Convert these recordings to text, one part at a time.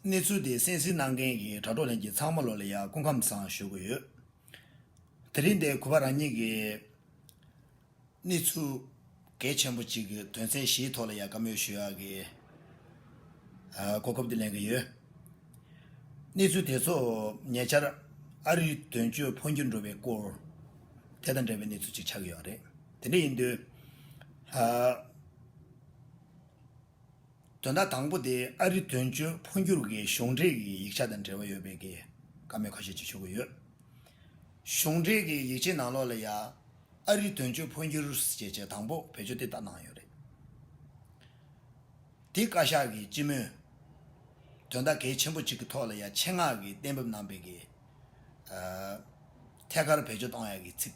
གནས་ཚུལ་དེ་གསན་གཟིགས་གནང་མཁན་གྱི་དྲ་གྲོགས་ལྷན་རྒྱས་ཚང་མ་ལོ་ལ་ཡར་སྐུ་ཁམས་བཟང་ཞུ་གི་ཡོད། དེ་རིང་འདིར་གུས་པ་རང་ཉིད་ཀྱི་གནས་ཚུལ་གལ་ཆེན་པོ་གཅིག་གི་དོན་ཚན་བཞིའི་ཐོག་ལ་ཡར་བཀའ་མོལ་ཞུ་ཡག་གི་གོ་སྐབས་འདི་ལེན་གི་ཡོད། གནས་ཚུལ་དེ་ཚོ་ཉེ་ཆར་ཨ་རིའི་དོན་གཅོད་འཕོ་འགྱུར་འགྲོ་བའི་སྐོར་དེ་དང་འབྲེལ་བའི་གནས་ཚུལ་གཅིག་ཆགས་ཀྱི་ཡོད་རེད། དེ་འདྲ་ཡིན་དུས། དོན་དག་དང་པོ་དེ་ཨ་རི་དོན་གཅོད་འཕོ་འགྱུར་གྱི་གཞུང་འབྲེལ་གྱི་ཡིག་ཆ་དང་འབྲེལ་བ་ཡོད་པའི་གི་བཀའ་མོལ་ཁ་ཤས་བྱེད་ཆོག་གི་ཡོད། གཞུང་འབྲེལ་གྱི་ཡིག་ཆའི་ནང་ལོགས་ལ་ཡང་ཨ་རི་དོན་གཅོད་འཕོ་འགྱུར་ཞེས་བྱས་དང་པོ་བེད་སྤྱོད་དེ་ལྟར་གནང་ཡོད་རེད། དེ་བཀའ་ཤག་གི་སྤྱི་མོས་དོན་དག་གལ་ཆེན་པོ་གཅིག་གི་ཐོག་ལ་ཡང་ཆེད་མངགས་ཀྱིས་གཏན་འབེབས་གནང་པའི་གི་ཐད་ཀར་བེད་སྤྱོད་གཏོང་ཡ་གི་ཚིག།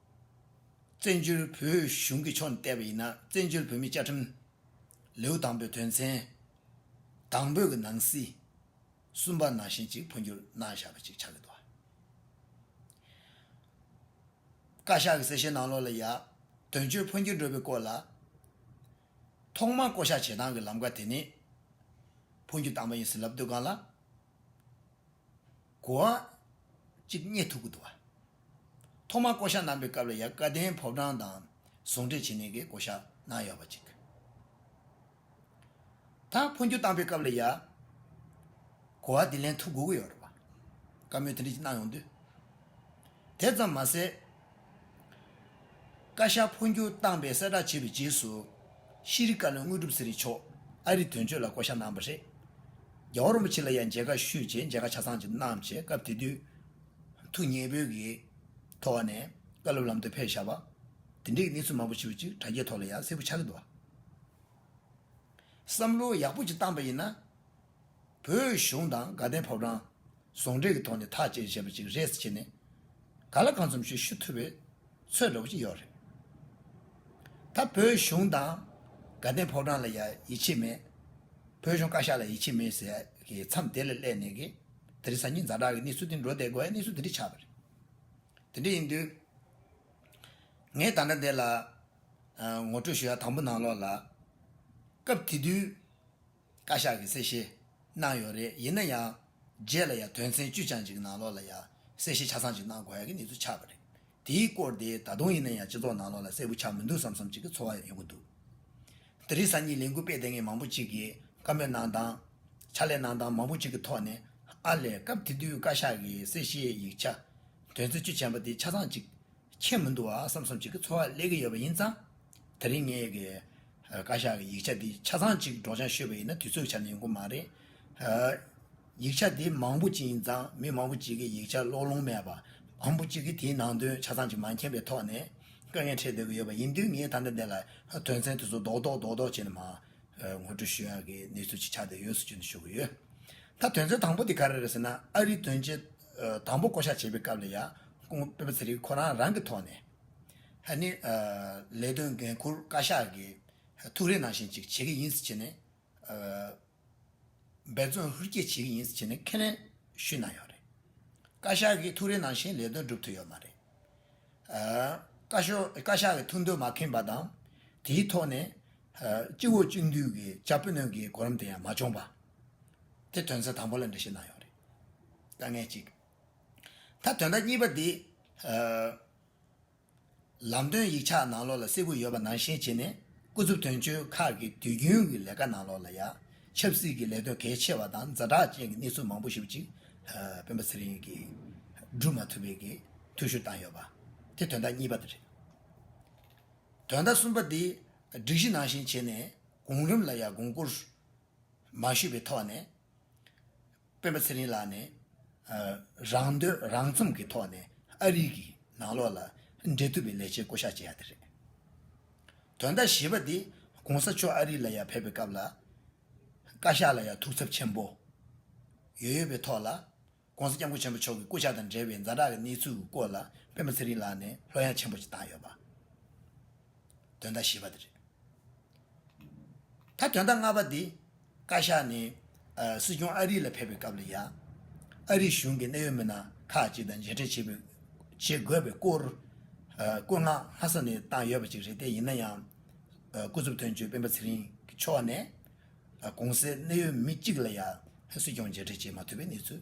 བཙན་བྱོལ་བོད་གཞུང་གི་ཕྱོགས་ནས་བལྟས་པ་ཡིན་ན་བཙན་བྱོལ་བོད་མིའི་བཅའ་ཁྲིམས། ལེའུ་དང་པོའི་དོན་ཚན། དང་པོའི་གི་ནང་གསེས། གསུམ་པ་ནང་བཞིན་གཅིག་འཕོ་འགྱུར་གནང་བཞག་པ་ཅིག་ཆགས་ཀྱི་འདུག་བ། བཀའ་ཤག་གི་གསལ་བཤད་ནང་ལོགས་ལ་ཡང། དོན་གཅོད་འཕོ་འགྱུར་འགྲོ་བའི་སྐོར་ལ། ཐོག་མར་བསྐོ་བཞག་བྱེད་སྟངས་ཀྱི་ལམ་ཀ་དེ་ནི། འཕོ་འགྱུར་བཏང་པ་ཡིན་ཟིན་ལབ་སྡོད་ཁང་ལ། གོ་འམ། གཅིག་རྙེད་ཐུག་གི་འདུག་བ། ཐོག་མར་བསྐོ་གཞག་གནང་པའི་སྐབས་ལ་ཡ་བཀའ་བསྟན་ཕོབ་གྲངས་དང་ཟུང་འབྲེལ་བྱེད་ནས་གི་བསྐོ་གཞག་གནང་ཡོད་པ་གཅིག། དང་འཕོ་འགྱུར་བཏང་པའི་སྐབས་ལ་ཡ། གོ་བ་དེ་ལན་ཐུག་དགོས་ཀྱི་ཡོད་རེད་བ། བཀའ་མོལ་དེ་འདྲ་གཅིག་གནང་ཡོང་དུས། དེ་ཙམ་མ་ཟད། བཀའ་ཤག་འཕོ་འགྱུར་བཏང་པའི་གསལ་བསྒྲགས་བྱས་པའི་རྗེས་སུ། ཤེས་རིག་བཀའ་བློན་དངོས་གྲུབ་ཚེ་རིང་མཆོག་ཨ་རིར་དོན་གཅོད་ལ་བསྐོ་གཞག་གནང་བ་རེད། རྒྱལ་བ་རིན་པོ་ཆེ་ལ་ཡང་མཇལ་ཁ་ཞུས་རྗེས་མཇལ་ཁ་ཆ་ཚང་བྱས་གནང་བྱས་སྐབས་དེ་དུས་ཐུགས་མཉེས་བོད་ཀྱི་ཐོག་ནས་བཀའ་སློབ་ལམ་སྟོན་ཕེབས་བཞག་པ། དེ་འདྲའི་གནས་ཚུལ་མང་པོ་ཞིག་ཅིག་དྲ་རྒྱའི་ཐོག་ལ་ཡང་གསལ་པོ་ཆགས་ཀྱི་འདུག་བསམ་བློ་ཡག་པོ་ཅིག་བཏང་པ་ཡིན་ན། བོད་གཞུང་དང་དགའ་ལྡན་ཕོ་བྲང། ཟུང་འབྲེལ་གྱི་ཐོག་ནས་ཐག་བཅད་བྱས་པ་ཅིག་རེད་ཟེར་ནས། ག་ལ་གང་འཚམ་ཞུ་ཞུ་ཐུབ་པའི་ཚོད་རོགས་ཀྱི་ཡོད་རེད། ད་བོད་གཞུང་དང་དགའ་ལྡན་ཕོ་བྲང་ལ་ཡིད་ཆེས་མེད། བོད་གཞུང་བཀའ་ཤག་ལ་ཡིད་ཆེས་མེད་ཟེར་གི་མཚམས་དེ་ལ་སླེབས་ནས་ཀྱི། དེ་རིང་གཟའ་ཉི་གཟའ་གྲགས་ཀྱི་གནས་ཚུལ་དེ་འགྲོ་བསྡད་དགོས་ཡ་གནས་ཚུལ་དེ་འདྲ་ཆགས་པ་རེད། དེ་འདྲ་ཡིན་དུས། ངས་ད་ལྟ་འདི་ལ། ངོ་སྤྲོད་ཞུ་ཡ་དང་པོ་ནང་ལོགས་ལ། སྐབས་དེ་དུས། བཀའ་ཤག་གིས་གསལ་བཤད་གནང་ཡོད་རེད་ཡིན་ན་ཡང་རྗེས་ལ་ཡང་དོན་ཚན་བཅུ་ཆ་གཅིག་གི་ནང་ལོགས་ལ་ཡང་གསལ་བཤད་ཆ་ཚང་གཅིག་གནང་དགོས་ཡག་གི་གནས་ཚུལ་ཆགས་པ་རེད་དེའི་སྐོར་དེ་ད་དུང་ཡིན་ན་ཡང་སྤྱི་ཚོགས་ནང་ལོགས་ལ་གསལ་པོ་ཆགས་མི་འདུག་བསམ་བསམ་གཅིག་གི་ཚོར་བ་ཡང་ཡོང་གི་འདུག་འདི་རིགས་སང་ཉིན་ལས་འགུལ་སྤེལ་ལྟེ་ངན་མང་པོ་གཅིག་གིས་བཀའ་མོལ་གནང་སྟངས། ཕྱག་ལས་གནང་སྟངས་མང་པོ་གཅིག་གི་ཐོག་ནས་ཨ་ལས་སྐབས་དེ་དུས་བཀའ་ཤག་གི་གསལ་བཤད་ཡིག་ཆ་དོན་ཚན་བཅུ་ཆེན་པ་དེ་ཆ་ཚང་གཅིག་མཁྱེན་མི་འདུག་བསམ་བསམ་གཅིག་གི་ཚོར་བ་སླེབས་ཀྱི་ཡོད་པ་ཡིན་ཙང། དེ་རིང་ངས་བཀའ་ཤག་གི་ཡིག་ཆ་འདི་ཆ་ཚང་གཅིག་སྒྲོག་སྦྱང་ཤོད་པ་ཡིན་ན་དུས་ཚོད་ཀྱི་ཆ་ནས་ཡོང་གི་མ་རེད། ཡིག་ཆ་འདི་མང་པོ་གཅིག་ཡིན་ཙང་མི་མང་པོ་གཅིག་གིས་ཡིག་ཆ་ཀློག་ལོང་མེད་པ། མང་པོ་གཅིག་གིས་དེའི་ནང་དོན་ཆ་ཚང་གཅིག་མ་མཁྱེན་པའི་ཐོག་ནས་དཀའ་ངལ་འཕྲད་སྡོད་ཀྱི་ཡོད་པ་ཡིན་དུས་ངས་ད་ལྟ་འདི་ལ་དོན་ཚན་དེ་ཚོ་རྡོག་རྡོག་རྡོག་རྡོག་བྱས་ནས་མ་ངོ་སྤྲོད་ཞུ་ཡག་གི་གནས་ཚུལ་གཅིག་ཆགས་སྡོད་ཡོད་ཟེར་རྒྱུ་འདི་ཞུ་གི་ཡོད། ད་དོན་ཚན་དང་པོ་དེ་ག་རེ་རེད་ཟེར་ན་ཨ་རིའི་དོན་ཆེན་དང་པོ་བསྐོ་གཞག་བྱེད་པའི་སྐབས་ལ་ཡ་ཀུང་པེ་པ་ཚེ་རིང་ཁོ་རང་རང་གི་ཐོག་ནས། ཧ་ནི། ལས་དོན་འགན་འཁུར་བཀའ་ཤག་གིས་ཐུགས་རེ་གནང་བཞིན་ཅིག་བྱེད་ཀྱི་ཡིན་ཟེར་བྱས་ནས། འབད་བརྩོན་ཧུར་སྐྱེད་བྱེད་ཀྱི་ཡིན་ཟེར་བྱས་ནས་ཁས་ལེན་ཞུས་གནང་ཡོད་རེད། བཀའ་ཤག་གིས་ཐུགས་རེ་གནང་བཞིན་ལས་དོན་བསྒྲུབ་ཐུབ་ཡོད་མ་རེད། བཀའ་བཀའ་ཤག་གི་ཐུགས་འདོད་མ་ཁེངས་པ་དང། དེའི་ཐོག་ནས། སྤྱི་བོ་གཅིག་འདུས་ཀྱི་བཅའ་སྤོས་སྣོན་གྱི་གོ་རིམ་དེ་ཡང་མ་བྱུང་བ། དེ་དོན་ཚན་དང་པོ་ལ་འགྲེལ་བཤད་གནང་ཡོད་རེད། དཀའ་ངལ་གཅིག། ད་དོན་དག་གཉིས་པ་འདི། ལམ་སྟོན་ཡིག་ཆ་ནང་ལོགས་ལ་གསལ་བོ་ཡོད་པ་ནང་བཞིན་བྱས་ནས་སྐུ་ཚབ་དོན་གཅོད་ཁག་གི་དུས་རྒྱུན་གྱི་ལས་ཀ་ནང་ལོགས་ལ་ཡ། ཆབ་སྲིད་ཀྱི་ལས་དོན་གལ་ཆེ་བ་དང་རྫ་དྲག་ཅན་གྱི་གནས་ཚུལ་མང་པོ་ཞིག་ཅིག་སྤེན་པ་ཚེ་རིང་གིས་བསྒྲུབ་མ་ཐུབ་པའི་གི་ཐུགས་ཞུ་བཏང་ཡོད་པ། དེ་དོན་དག་གཉིས་པ་དེ་རེད། དོན་དག་གསུམ་པ་འདི། སྒྲིག་གཞི་ནང་བཞིན་བྱས་ནས་གོང་རིམ་ལ་ཡ་དགོངས་བསྐུར་མ་ཞུས་པའི་ཐོག་ནས། སྤེན་པ་ཚེ་རིང་ལགས་ནས་རང་འདོད་རང་བརྩོམ་གྱི་ཐོག་ནས་ཨ་རིག་གི་ནང་ལོག་ལ་འབྲེལ་ཐུབ་པའི་ལས་བྱེད་བསྐོ་གཞག་བྱས་ཡ་དེ་རེད། དོན་དག་བཞི་པ་དེ་གོང་ས་མཆོག་ཨ་རིག་ལ་ཡ་ཕེབས་པའི་སྐབས་ལ་བཀའ་ཤག་ལ་ཡ་ཐུགས་འཚབ་ཆེན་པོ་ཡོད་ཡོད་པའི་ཐོག་ལ་གོང་ས་སྐྱབས་མགོན་ཆེན་པོ་མཆོག་གི་བསྐོ་གཞག་དང་འབྲེལ་བའི་འཛའ་དྲག་གི་གནས་ཚུལ་གྱི་སྐོར་ལ་སྤེན་པ་ཚེ་རིང་ལགས་ནས་ལྷོད་ཡངས་ཆེན་པོ་ཞིག་བཏང་ཡོད་པ། དོན་དག་བཞི་པ་དེ་རེད། ད་དོན་དག་ལྔ་པ་འདི་བཀའ་ཤག་ནས་སྲིད་སྐྱོང་ཨ་རི་ལ་ཕེབས་པའི་སྐབས་ལ་ཡང། ཨ་རི་གཞུང་གི་གནད་ཡོད་མི་སྣ་ཁག་ཅིག་དང་མཇལ་འཕྲད་བྱེད་དགོས་པའི་སྐོར་བཀོད་མངགས་ལྷ་ས་ནས་བཏང་ཡོད་པ་ཅིག་རེད་དེ་ཡིན་ན་ཡང། སྐུ་ཚབ་དོན་གཅོད་སྤེན་པ་ཚེ་རིང་གི་མཆོག་ནས། གོང་གསལ་གནད་ཡོད་མི་གཅིག་ལ་ཡང་སྲིད་སྐྱོང་མཇལ་འཕྲད་བྱེད་མ་ཐུབ་པའི་གནས་ཚུལ།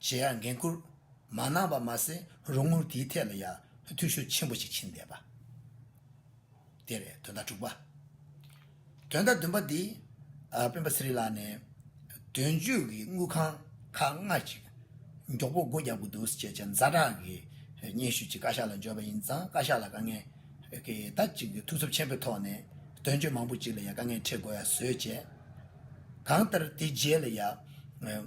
ཇེ་ཡག་འགན་ཁུར་མ་གནང་བ་མ་ཟད་རོགས་དངུལ་དེའི་ཐད་ལ་ཡང་འཐུས་ཤོར་ཆེན་པོ་ཞིག་ཕྱིན་བསྡད་པ། དེ་བས་དོན་དག་དྲུག་པ། དོན་དག་བདུན་པ་འདི་སྤེན་པ་ཚེ་རིང་ལགས་ནས་དོན་གཅོད་ཀྱི་དངུལ་ཁང་ཁག་ལྔ་གཅིག་མགྱོགས་པོ་སྒོ་རྒྱག་དགོས་འདུག་ཅེས་བྱས་རྫ་དྲག་གི་སྙན་ཞུ་ཅིག་བཀའ་ཤག་ལ་འབྱོར་བ་ཡིན་ཙང་བཀའ་ཤག་ལ་དཀའ་ངལ་གྱི་ད་ཅིག་གི་ཐུགས་འཚབ་ཆེན་པོའི་ཐོག་ནས་དོན་གཅོད་མང་པོ་ཅིག་ལ་ཡང་དཀའ་ངལ་འཕྲད་དགོས་ཡ་བཟོས་བྱས། གང་ལྟར་དེ་རྗེས་ལ་ཡང།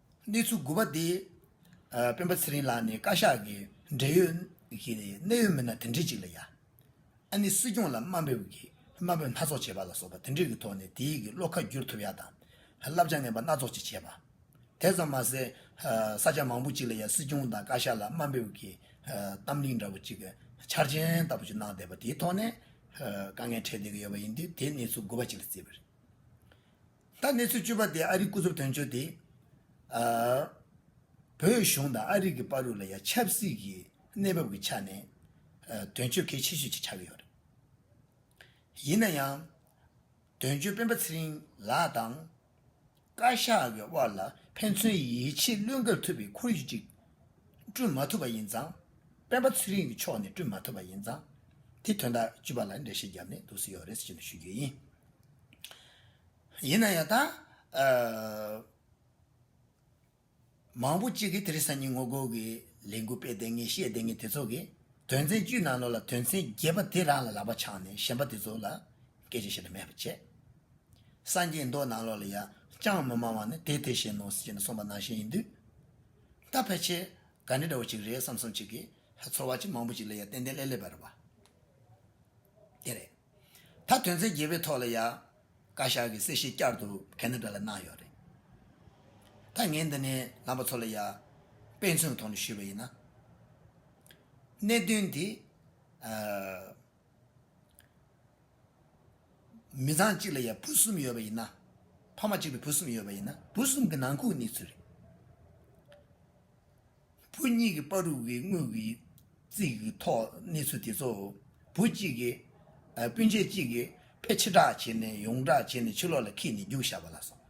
གནས་ཚུལ་དགུ་པ་སྟེ། སྤེན་པ་ཚེ་རིང་ལགས་ནི་བཀའ་ཤག་གི་འབྲེལ་ཡོད་ཀྱི་གནད་ཡོད་མི་སྣ་དེ་འདྲི་གཅིག་ལ་ཡ། ཨ་ནི་སྲིད་སྐྱོང་ལ་དམའ་འབེབས་ཀྱི་དམའ་འབེབས་སྣ་ཚོགས་བྱེད་པ་ལ་སོགས་པ་དེ་འདྲི་གི་ཐོག་ནས་དེ་ཡིག་གི་བློ་ཁ་བསྒྱུར་ཐུབ་ཡ་དང། བསླབ་བྱ་ངན་པ་སྣ་ཚོགས་ཅིག་བྱས་པ། དེ་ཙམ་མ་ཟད། ས་སྐྱ་མང་པོ་ཅིག་ལ་ཡ་སྲིད་སྐྱོང་དང་བཀའ་ཤག་ལ་དམའ་འབེབས་ཀྱི་གཏམ་གླིང་འདྲ་པོ་ཅིག་འཆར་ཅན་ལྟ་བུ་ཅིག་གནང་བསྡད་པ་དེའི་ཐོག་ནས་དཀའ་ངལ་འཕྲད་བསྡད་ཀྱི་ཡོད་པ་ཡིན་དུས་དེ་གནས་ཚུལ་དགུ་པ་ཅིག་ལ་བརྩིས་པ་རེད། ད་གནས་ཚུལ་བཅུ་པ་དེ་ཨ་རིའི་སྐུ་ཚབ་དོན་གཅོད་དེས། བོད་གཞུང་དང་ཨ་རིག་གི་པར་རུ་ལ་ཡང་ཆབ་སྲིད་ཀྱི་གནས་བབ་ཀྱི་ཆ་ནས། དོན་གཅོད་གལ་ཆེ་ཤོས་ཅིག་ཆགས་ཀྱི་ཡོད་རེད། ཡིན་ན་ཡང། དོན་གཅོད་སྤེན་པ་ཚེ་རིང་ལགས་དང། བཀའ་ཤག་གི་དབར་ལ་ཕན་ཚུན་ཡིད་ཆེས་བློས་འགེལ་ཐུབ་པའི་ཁོར་ཡུག་ཅིག་བསྐྲུན་མ་ཐུབ་པ་ཡིན་ཙང། སྤེན་པ་ཚེ་རིང་གི་ཕྱོགས་ནས་བསྐྲུན་མ་ཐུབ་པ་ཡིན་ཙང། དེ་དོན་དག་བཅུ་པ་ལ་འགྲེལ་བཤད་བརྒྱབ་ནས་འདུག་སྲིད་ཡོད་རེད་ཅེས་ཞུ་རྒྱུ་ཡིན། ཡིན་ན་ཡང་དང། མང་པོ་གཅིག་གིས་དེ་རིང་སང་ཉིན་ངོ་རྒོལ་གྱི་ལས་འགུལ་སྤེལ་བསྡད་ངེས་བཤད་བསྡད་ངེས་དེ་ཚོ་གི་དོན་ཚན་བཅུའི་ནང་ནོར་ལ་དོན་ཚན་བརྒྱད་པ་དེ་རང་ལ་ལག་པ་འཆང་ནས་གཞན་པ་དེ་ཚོ་ལ་སྐད་ཆ་བཤད་དུ་མེད་པ་བྱས། སངས་རྒྱས་མདོ་ནང་ལོགས་ལ་ཡ་ཅང་མི་སྨྲ་བ་ནི་དེ་དེ་བཞིན་ནོ་ཞེས་ནས་གསུངས་པ་ནང་བཞིན་ཡིན་དུས། ད་ཕལ་ཆེར་ག་འདྲ་འདྲ་བོ་ཅིག་རེད་བསམ་བསམ་ཅིག་གིས་ཚོར་བ་ཅིག་མང་པོ་ཅིག་ལ་ཡ་ཏན་ཏན་ལེ་ལེ་བར་བ་དེ་རེད། ད་དོན་ཚན་བརྒྱད་པའི་ཐོག་ལ་ཡང་བཀའ་ཤག་གིས་གསལ་བཤད་བསྐྱར་དུ་གལ་ནུས་ལྡན་ལ་གནང་ཡོད་རེད། ད་ངས་འདི་ནས་ལམ་པ་ཚོ་ལ་ཡང་དཔེ་མཚོན་གྱི་ཐོག་ནས་ཞུས་པ་ཡིན་ན། གནད་དོན་འདི། མི་ཚང་གཅིག་ལ་ཡང་བུ་གསུམ་ཡོད་པ་ཡིན་ན། ཕ་མ་གཅིག་ལ་བུ་གསུམ་ཡོད་པ་ཡིན་ན་བུ་གསུམ་གྱི་ནང་ཁུག་གནས་ཚུལ་རེད། བུ་གཉིས་ཀྱི་པར་རུ་བའི་དངུལ་གྱི་རྩིས་ཀྱི་ཐོག་གནས་ཚུལ་དེ་ཚོ་བུ་གཅིག་གིས་སྤུན་མཆེད་གཅིག་གིས་ཕལ་ཕྱི་བསྒྲགས་བྱས་ནས་ཡོངས་བསྒྲགས་བྱས་ནས་ཕྱི་ལོགས་ལ་ཁྱེར་ནས་རྒྱུགས་བཞག་པ་ལ་སོང་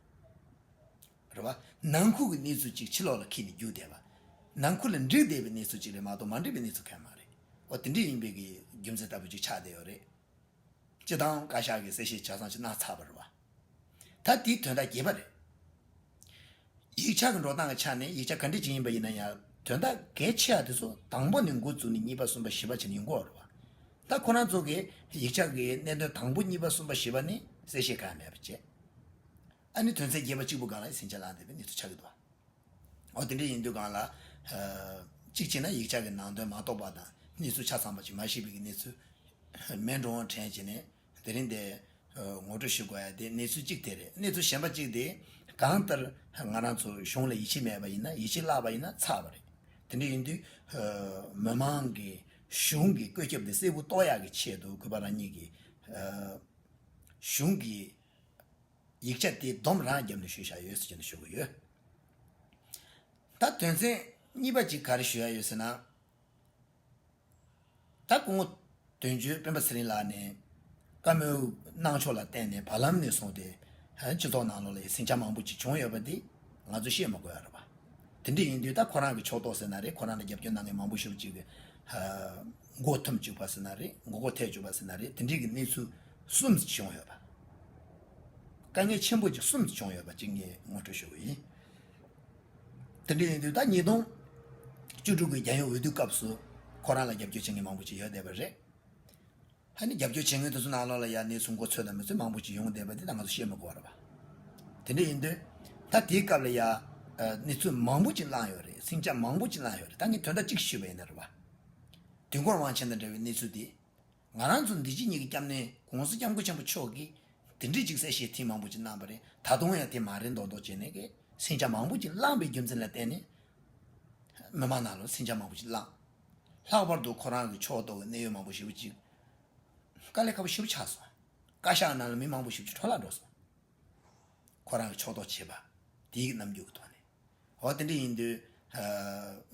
རེད་བ། ནང་ཁུལ་གྱི་གནས་ཚུལ་གཅིག་ཕྱི་ལོགས་ལ་ཁྱེར་ནས་རྒྱུགས་བསྡད་པ། ནང་ཁུལ་ལ་འདྲིས་བསྡད་པའི་གནས་ཚུལ་གཅིག་རེད་མ་གཏོགས་མ་འདྲིས་པའི་གནས་ཚུལ་གང་མ་རེད། འོ་དེ་འདྲས་ཡིན་པའི་རྒྱུ་མཚན་ལྟ་བུ་གཅིག་ཆགས་བསྡད་ཡོད་རེད། སྤྱི་བཏང་བཀའ་ཤག་གིས་གསལ་བཤད་བྱས་སོང་ཕྱི་ནང་ཚགས་པར་བ། ད་འདིའི་དོན་དག་རྒྱས་པ་རེད། ཡིག་ཆ་གི་འགྲོ་སྟངས་ཀྱི་ཆ་ནས་ཡིག་ཆ་ག་འདྲའི་ཅིག་ཡིན་པ་ཡིན་ན་ཡང་དོན་དག་གལ་ཆེ་བ་དེ་ཚོ་དང་པོ་ནས་འགོ་བཙུགས་ནས་གཉིས་པ་གསུམ་པ་བཞི་པ་བྱས་ནས་ཡིན་གོ་རོགས། ད་ཁོ་རང་ཚོ་གིས་ཡིག་ཆ་གི་གནད་དོན་དང་པོ་གཉིས་པ་གསུམ་པ་བཞི་པ་ནི་གསལ་བཤད་ག་ཡང་མེད་པ་བྱས། ཨ་ནི་དོན་ཚན་བརྒྱད་པ་གཅིག་པུ་སྒང་ལ་ཟིང་ཆ་ལངས་ཟིན་པའི་གནས་ཚུལ་ཆགས་ཀྱི་འདུག་བ། འོ་དེ་འདྲ་ཡིན་དུས་སྒང་ལ། གཅིག་བྱས་ན་ཡིག་ཆ་གི་ནང་དོན་མ་རྟོགས་པ་དང་གནས་ཚུལ་ཆ་ཚང་པ་ཅིག་མ་ཤེས་པའི་གནས་ཚུལ། མེད་འགྲོ་འོང་དྲན་བྱས་ནས། དེ་རིང་དེ། ངོ་སྤྲོད་ཞུ་དགོས་ཡ་དེ་གནས་ཚུལ་གཅིག་དེ་རེད་གནས་ཚུལ་གཞན་པ་གཅིག་དེ། གང་ལྟར། ང་རང་ཚོ་གཞུང་ལ་ཡིད་ཆེས་མེད་པ་ཡིན་ན་ཡིད་ཆེས་བརླག་པ་ཡིན་ན་ཚར་བ་རེད། དེ་འདྲ་ཡིན་དུས། མི་མང་གིས་གཞུང་གི་བཀོད་ཁྱབ་དེ་གསལ་བོ་རྟོགས་ཡག་གི་ཆེད་དུ་གུས་པ་རང་ཉིད་ཀྱི། གཞུང་གི། ཡིག་ཆ་དེ་བསྡོམས་རང་རྒྱབ་ནས་ཞུ་བཞག་ཡོད་ཟེར་གྱི་འདུག་ཞུ་གི་ཡོད། ད་དོན་ཚན་གཉིས་པ་གཅིག་ག་རེ་ཞུ་ཡག་ཡོད་ཟེར་ན། ད་སྐུ་ངོ། དོན་གཅོད་སྤེན་པ་ཚེ་རིང་ལགས་ནས། བཀའ་མོལ་གནང་ཕྱོགས་ལ་བརྟེན་ནས་བར་ལམ་ནས་བཟུང་སྟེ། སྤྱི་ཚོགས་ནང་ལོགས་ལས་ཟིང་ཆ་མང་པོ་ཅིག་བྱུང་ཡོད་པ་དེ། ང་ཚོ་ཤེས་མ་དགོས་ར། དེ་འདྲ་ཡིན་དུས་ད་ཁོ་རང་གི་ཕྱོགས་གཏོགས་ཟེར་ན་རེད་ཁོ་རང་ལ་རྒྱབ་སྐྱོར་གནང་མཁན་མང་པོ་ཤུགས་གཅིག་གིས། མགོ་འཐོམ་བཅུག་པ་ཟེར་ན་རེད་མགོ་སྐོར་ཐལ་བཅུག་པ་ཟེར་ན་རེད་དེ་འདྲིའི་གི་གནས་ཚུལ་གསུམ་བྱུང་ཡོད་པ། དཀའ་ངལ་ཆེན་པོ་ཅིག་གསུམ་བྱུང་ཡོད་པ་གཅིག་ངས་ངོ་སྤྲོད་ཞུ་གི་ཡིན། དེ་འདྲ་ཡིན་དུས་ད་ཉིས་སྟོང་བཅུ་དྲུག་གི་རྒྱལ་ཡོངས་འོས་བསྡུ་སྐབས་སུ་ཁོ་རང་ལ་རྒྱབ་སྐྱོར་བྱེད་མཁན་མང་པོ་ཞིག་ཡོད་བསྡད་པ་རེད། ཧ་ནི་རྒྱབ་སྐྱོར་བྱེད་མཁན་དེ་ཚོ་ནང་ལོགས་ལ་ཡར་གནས་ཚུལ་མགོ་ཚོས་དང་མི་ཚོས་མང་པོ་ཞིག་ཡོང་བསྡད་པ་དེ་ད་ང་ཚོ་ཤེས་མི་དགོས་ར། དེ་འདྲ་ཡིན་དུས་ད་དེའི་སྐབས་ལ་ཡར་གནས་ཚུལ་མང་པོ་ཅིག་བསླངས་ཡོད་རེད་སེམས་ཆ་མང་པོ་ཅིག་བསླངས་ཡོད་རེད་ད་ངས་དོན་དག་གཅིག་ཞུས་པ་ཡིན་ན་ར། དུས་འཁོར་དབང་ཆེན་དང་འབྲེལ་བའི་གནས་ཚུལ་དེ་ང་རང་ཚོ་འདི་ཕྱི་གཉིས་ཀྱི་སྐྱབས་གནས་དགོངས་སེལ་སྐྱབས་མགོན་ཆེན་པོ་མཆོག་གིས་འདི་འདྲའི་འཇིགས་སེལ་ཞེས་ཐེངས་མང་པོ་ཅིག་གནང་བ་རེད་ད་དུང་ཡང་དེ་མ་རེད་མདོག་མདོག་བྱས་ནས་ཀྱི་སྲིང་བྱ་མང་པོ་ཅིག་བསླངས་པའི་རྒྱུ་མཚན་ལ་བརྟེན་ནས། མི་མང་ནང་ལ་སྲིང་བྱ་མང་པོ་ཅིག་བསླངས། ལྷག་པར་དུ་ཁོ་རང་གི་ཕྱོགས་གཏོགས་ཀྱི་གནད་ཡོད་མང་པོ་ཞིག་བུ་གཅིག་དཀའ་ལས་ཁ་བོ་ཞིབ་ཆགས་སོང། བཀའ་ཤག་ནང་ལ་མི་མང་པོ་ཞིབ་ཆུ་འཕྲོ་བརླག་འགྲོ་སོང། ཁོ་རང་གི་ཕྱོགས་གཏོགས་བྱས་པ་དེའི་གི་རྣམ་འགྱུར་གྱི་ཐོག་ནས། འོ་དེ་འདྲ་ཡིན་དུས།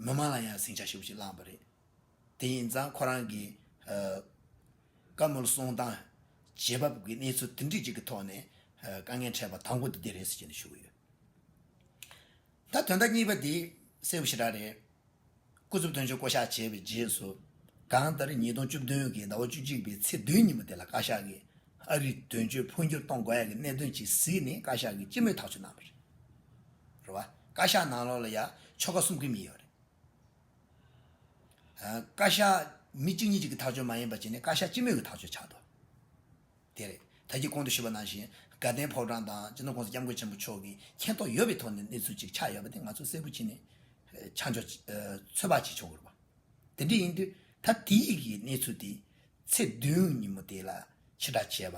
མི་མང་ལ་ཡང་སྲིང་བྱ་ཞིབ་པོ་ཅིག་བསླངས་པ་རེད། དེ་ཡིན་ཙང་ཁོ་རང་གིས། བཀའ་མོལ་གསུང་སྟངས། བྱེད་བབ་ཀྱི་གནས་ཚུལ་འདི་འདྲི་གཅིག་གི་ཐོག་ནས། དཀའ་ངལ་འཕྲད་པ་དང་པོ་དེ་འདི་རེད་ཟེར་གྱི་འདི་ཞུ་གི་ཡོད། ད་དོན་དག་གཉིས་པ་འདི་གསལ་བོ་ཞེ་དྲག་རེད། སྐུ་ཚབ་དོན་གཅོད་བསྐོ་བཞག་བྱས་པའི་རྗེས་སུ། གང་ལྟར་ཉིས་སྟོང་བཅུ་བདུན་གྱི་ཟླ་བ་བཅུ་གཅིག་པའི་ཚེས་བདུན་ཉིན་མོ་དེ་ལ་བཀའ་ཤག་གིས་ཨ་རིར་དོན་གཅོད་འཕོ་འགྱུར་གཏོང་དགོས་ཡ་གི་གནད་དོན་ཇི་གཟིགས་ནི་བཀའ་ཤག་གིས་སྤྱི་མོས་ཐག་གཅོད་གནང་བ་རེད། རེད་བ། བཀའ་ཤག་ནང་ལོགས་ལ་ཡ་ཆོལ་ཁ་གསུམ་གི་མི་ཡོད་རེད། བཀའ་ཤག་མི་གཅིག་གཉིས་གཅིག་གི་ཐག་གཅོད་མ་ཡིན་པ་བྱས་ནས་བཀའ་ཤག་སྤྱི་མོས་ཀྱི་ཐག་གཅོད་ཆགས་འདུག་དེ་རེད། ད་ཁྱེད་གོང་དུ་ཞུས་པ་ནང་བཞིན་དགའ་ལྡན་ཕོ་བྲང་དང་སྤྱི་ནོར་ཀུང་སི་སྐྱབས་མགོན་ཆེན་པོ་མཆོག་གི་མཁྱེན་རྟོགས་ཡོད་པའི་ཐོག་ནས་གནས་ཚུལ་གཅིག་ཆགས་ཡོད་པ་དེ་ང་ཚོས་གསལ་པོ་བྱས་ནས་ཆ་འཇོག་ཚོད་དཔག་བྱེད་ཆོག་གི་རེད་པ། དེ་འདྲ་ཡིན་དུས་ད་དེ་ཡིག་གི་གནས་ཚུལ་དེ་ཚེས་བདུན་ཉིན་མོ་དེ་ལ་ཕྱི་བསྒྲགས་བྱས་པ་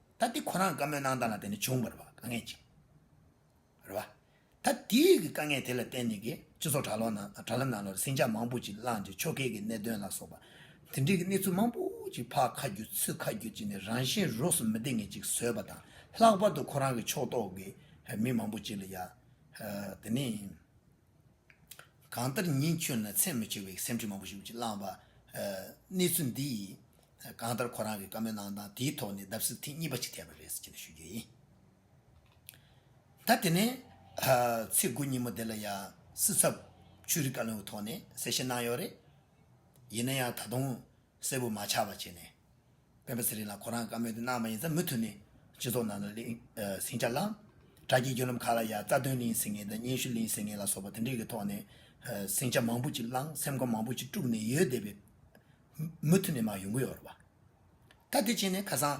ད་འདི་ཁོ་རང་བཀའ་མོལ་གནང་སྟངས་ལ་བརྟེན་ནས་བྱུང་བར་བ་དཀའ་ངལ་ཅིག་རེད་བ། ད་འདི་ཡིག་གི་དཀའ་ངལ་དེ་ལ་བརྟེན་ནས་ཀྱི་སྤྱི་ཚོགས་དྲ་ལོག་ནང་དྲ་ལམ་ནང་ལོར་ཟིང་ཆ་མང་པོ་ཅིག་བསླངས་ཏེ་ཕྱོགས་འགལ་གྱི་གནད་དོན་ལ་སོགས་པ་དེ་འདྲིའི་གི་གནས་ཚུལ་མང་པོ་ཅིག་ཕ་ཁ་བརྒྱུད་ཚུ་ཁ་བརྒྱུད་ཅིག་ནས་རང་བཞིན་རོགས་སུ་མི་བདེ་ངེས་ཅིག་བཟོས་པ་དང་ལྷག་པར་དུ་ཁོ་རང་གི་ཕྱོགས་གཏོགས་ཀྱི་མི་མང་པོ་ཅིག་ལ་ཡང་དེ་ནི་གང་ལྟར་ཉིན་ཁྱོད་ནི་ཚད་མི་ཆེ་བའི་སེམས་ཁྲལ་མང་པོ་ཞིག་ཅིག་བསླངས་བ་གནས་ཚུལ་འདི་ཡིས་གང་ལྟར་ཁོ་རང་གི་བཀའ་མོལ་གནང་སྟངས་དེའི་ཐོག་ནས་བརྡབ་གསིག་ཐེངས་གཉིས་པ་ཞིག་ཐེབས་པ་རེད་ཟེར་གྱི་འདུག་ཞུ་རྒྱུ་ཡིན། ད་དེ་ནས། ཚེས་དགུ་ཉིན་མོ་དེ་ལ་ཡང་སྲིད་ཚབ་ཆོས་རིག་བཀའ་བློན་གྱི་ཐོག་ནས་གསལ་བཤད་གནང་ཡོད་རེད། ཡིན་ན་ཡང་ད་དུང་གསལ་བོ་མ་ཆགས་པ་བྱས་ནས། སྤེན་པ་ཚེ་རིང་ལགས་ཁོ་རང་གི་བཀའ་མོལ་དེ་གནང་བ་ཡིན་ཙང་མུ་མཐུད་ནས་སྤྱི་ཚོགས་ནང་ལ་ཟིང་ཆ་བསླངས། དྲ་རྒྱའི་བརྒྱུད་ལམ་ཁག་ལ་ཡང་རྩ་དོན་གླེང་ཟིན་ངེས་དང་སྙན་ཞུ་གླེང་ཟིན་ངེས་ལ་སོགས་པ་དེ་འདྲའི་ཐོག་ནས་ཟིང་ཆ་མང་པོ་ཅིག་བསླངས་སེམས་ཁམས་མང་པོ་ཅིག་དཀྲུགས་ནས་ཡོད་བསྡད་པའི་མུ་མཐུད་ནས་མ་ཡོང་གི་ཡོད་རེད་བ། ད་དེ་བྱས་ནས་ཁ་སང།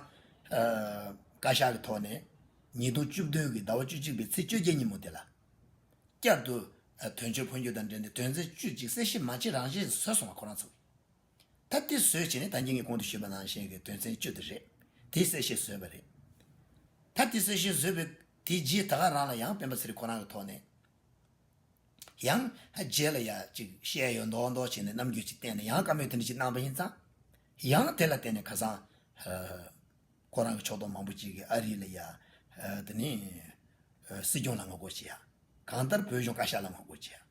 བཀའ་ཤག་གི་ཐོག་ནས་ཉིས་སྟོང་བཅུ་བདུན་གྱི་ཟླ་བ་བཅུ་གཅིག་པའི་ཚེས་བཅོ་བརྒྱད་ཉིན་མོ་དེ་ལ། བསྐྱར་དུ་དོན་གཅོད་འཕོ་འགྱུར་དང་འབྲེལ་ནས་དོན་ཚན་བཅུ་གཅིག་གསལ་བཤད་མ་བྱེད་རང་བཞིན་བཟོས་སོང་བ་ཁོ་རང་ཚོ། ད་དེ་བཟོས་བྱས་ནས་ད་ངེད་ཀྱིས་གོང་དུ་ཞུས་པ་ནང་བཞིན་གྱི་དོན་ཚན་བཅུ་དེ་རེད་དེའི་གསལ་བཤད་བཟོས་པ་རེད། ད་དེ་གསལ་བཤད་བཟོས་པའི་དེའི་རྗེས་ད་ག་རང་ལ་ཡང་སྤེན་པ་ཚེ་རིང་ཁོ་རང་གི་ཐོག་ནས། ཡང། རྗེས་ལ་ཡང་ཅིག་བཤད་ཡོད་མདོག་མདོག་བྱས་ནས་རྣམ་འགྱུར་ཅིག་བསྟན་ནས་ཡང་བཀའ་མོས་དེ་འདྲ་ཅིག་གནང་བ་ཡིན་ཙང། ཡང་དེ་ལ་བརྟེན་ནས་ཁ་སང། ཁོ་རང་གི་ཕྱོགས་གཏོགས་མང་པོ་ཅིག་གིས་ཨ་རི་ལ་ཡ། དེ་ནི། སྲིད་སྐྱོང་ལ་ངོ་རྒོལ་བྱེད་ཡ། གང་ལྟར་བོད་གཞུང་བཀའ་ཤག་ལ་ངོ་རྒོལ་བྱེད་ཡ།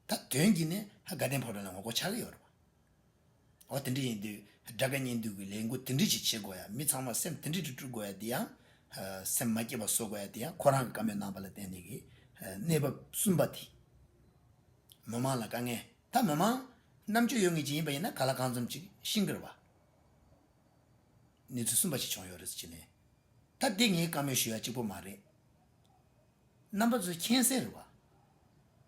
ད་དོན་གྱིས་ནི་དགའ་ལྡན་ཕོ་བྲང་ལ་ངོ་རྒོལ་བྱ་གི་ཡོད་རེད། འོ་དེ་འདྲ་ཡིན་དུས་དགྲ་དགའ་གཉེན་སྡུག་གི་ལས་འགུ་དེ་འདྲི་ཅིག་བྱེད་དགོ་ཡ་མི་ཚང་མ་སེམས་དེ་འདྲི་དྲི་དྲུ་གོ་ཡ་དེ་ཡང་སེམས་མ་སྐྱེ་བ་བཟོ་གོ་ཡ་དེ་ཡང་ཁོ་རང་གི་བཀའ་མོས་གནང་པ་ལ་བརྟེན་ནས་ཀྱི་གནས་བབ་གསུམ་པ་དེ་མི་མང་ལ་དཀའ་ངལ་ད་མི་མང་རྣམ་དཔྱོད་ཡོད་ངེས་ཅིག་ཡིན་པ་ཡིན་ན་ག་ལ་གང་འཛོམས་ཅིག་ཤིང་ཀེར་བ་གནས་ཚུལ་གསུམ་པ་ཞིག་བྱུང་ཡོད་རེད་ཅེ་ནས་ད་འདི་ངའི་བཀའ་མོས་ཞུ་ཡ་གཅིག་པོ་མ་རེད་རྣམ་པ་ཚོས་མཁྱེན་གསལ་རེད་བ།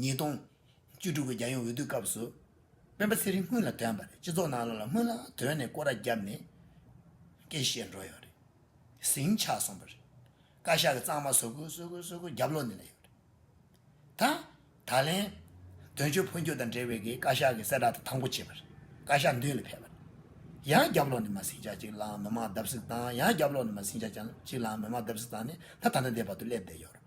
ཉིས་སྟོང། བཅུ་དྲུག་གི་རྒྱལ་ཡོངས་འོས་བསྡུའི་སྐབས་སུ། སྤེན་པ་ཚེ་རིང་སྔོན་ལ་དོན་པ་རེད་སྤྱི་ཚོགས་ནང་ལ་ལ་སྔོན་ལ་དོན་ནས་སྐོར་ར་བརྒྱབ་ནས་སྐད་བཤད་འགྲོ་ཡོད་རེད། ཟིང་ཆགས་སོང་པ་རེད། བཀའ་ཤག་གི་གཙང་མ་བཟོ་དགོས་བཟོ་དགོས་བཟོ་དགོས་རྒྱབ་ལོག་ནས་ལས་ཡོད་རེད། ད་ད་ལན། དོན་གཅོད་འཕོ་འགྱུར་དང་འབྲེལ་བའི་གིས་བཀའ་ཤག་གི་གསལ་བསྒྲགས་དེ་དང་པོ་བྱས་པ་རེད་བཀའ་ཤག་མདུན་ལ་ཕེབས་པ་རེད། ཡང་རྒྱབ་ལོག་ནས་མ་ཟིང་ཆགས་ཅིག་ལའང་མི་མང་བརྡབ་གསིག་བཏང་ཡང་རྒྱབ་ལོག་ནས་མ་ཟིང་ཆགས་ཅིག་ལའང་མི་མང་བརྡབ་གསིག་བཏང་ནས་ད་ད་ལྟ་འདས་བར་དུ་སླེབས་བསྡད་ཡོད་རེད།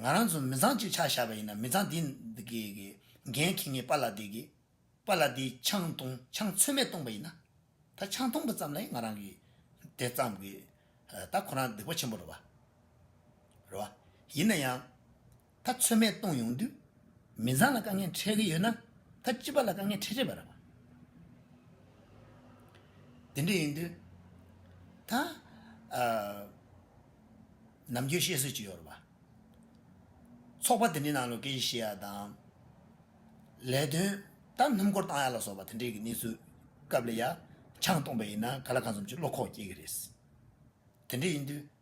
ང་རང་ཚོ་མི་ཚང་གཅིག་ཆགས་བཞག་པ་ཡིན་ན་མི་ཚང་དེ་འགན་ཁྱེད་ངས་པ་ལགས་དེ་གི་པ་ལགས་དེ་ཆང་བཏུང་ཆང་ཚོད་མེད་བཏུང་པ་ཡིན་ན་ད་ཆང་བཏུང་པ་ཙམ་ལ་ཡང་ང་རང་གི་དེ་བརྩམས་གི་ད་ཁོ་རང་སྡིག་པ་ཆེན་པོ་རེད་བ། ཡིན་ན་ཡང་ད་ཚོད་མས་གཏོང་ཡོང་དུས། མི་ཚང་ལ་དཀའ་ངལ་འཕྲད་ཀྱི་ཡོད་ན། ད་སྤྱི་པ་ལ་དཀའ་ངལ་འཕྲད་ཆེད་པར། དེ་འདྲ་ཡིན་དུས། ད། ནམ་རྒྱུན་བཤད་སྲོལ་གྱི་ཡོར་བ། ཚོགས་པ་དེ་འདྲའི་ནང་ལོ་ཀེ་ཤེས་ཡ་དང། ལས་དོན་ད་སྣུམ་འཁོར་བཏང་ཡ་ལ་སོགས་པ་དེ་འདྲའི་གི་གནས་ཚུལ་སྐབས་ལ་ཡ། ཆང་བཏོང་པ་ཡིན་ན་ག་ལ་གང་འཚམ་གྱི་བློ་ཁོག་སྐྱེ་གི་རེད། དེ་འདྲ་ཡིན་དུས།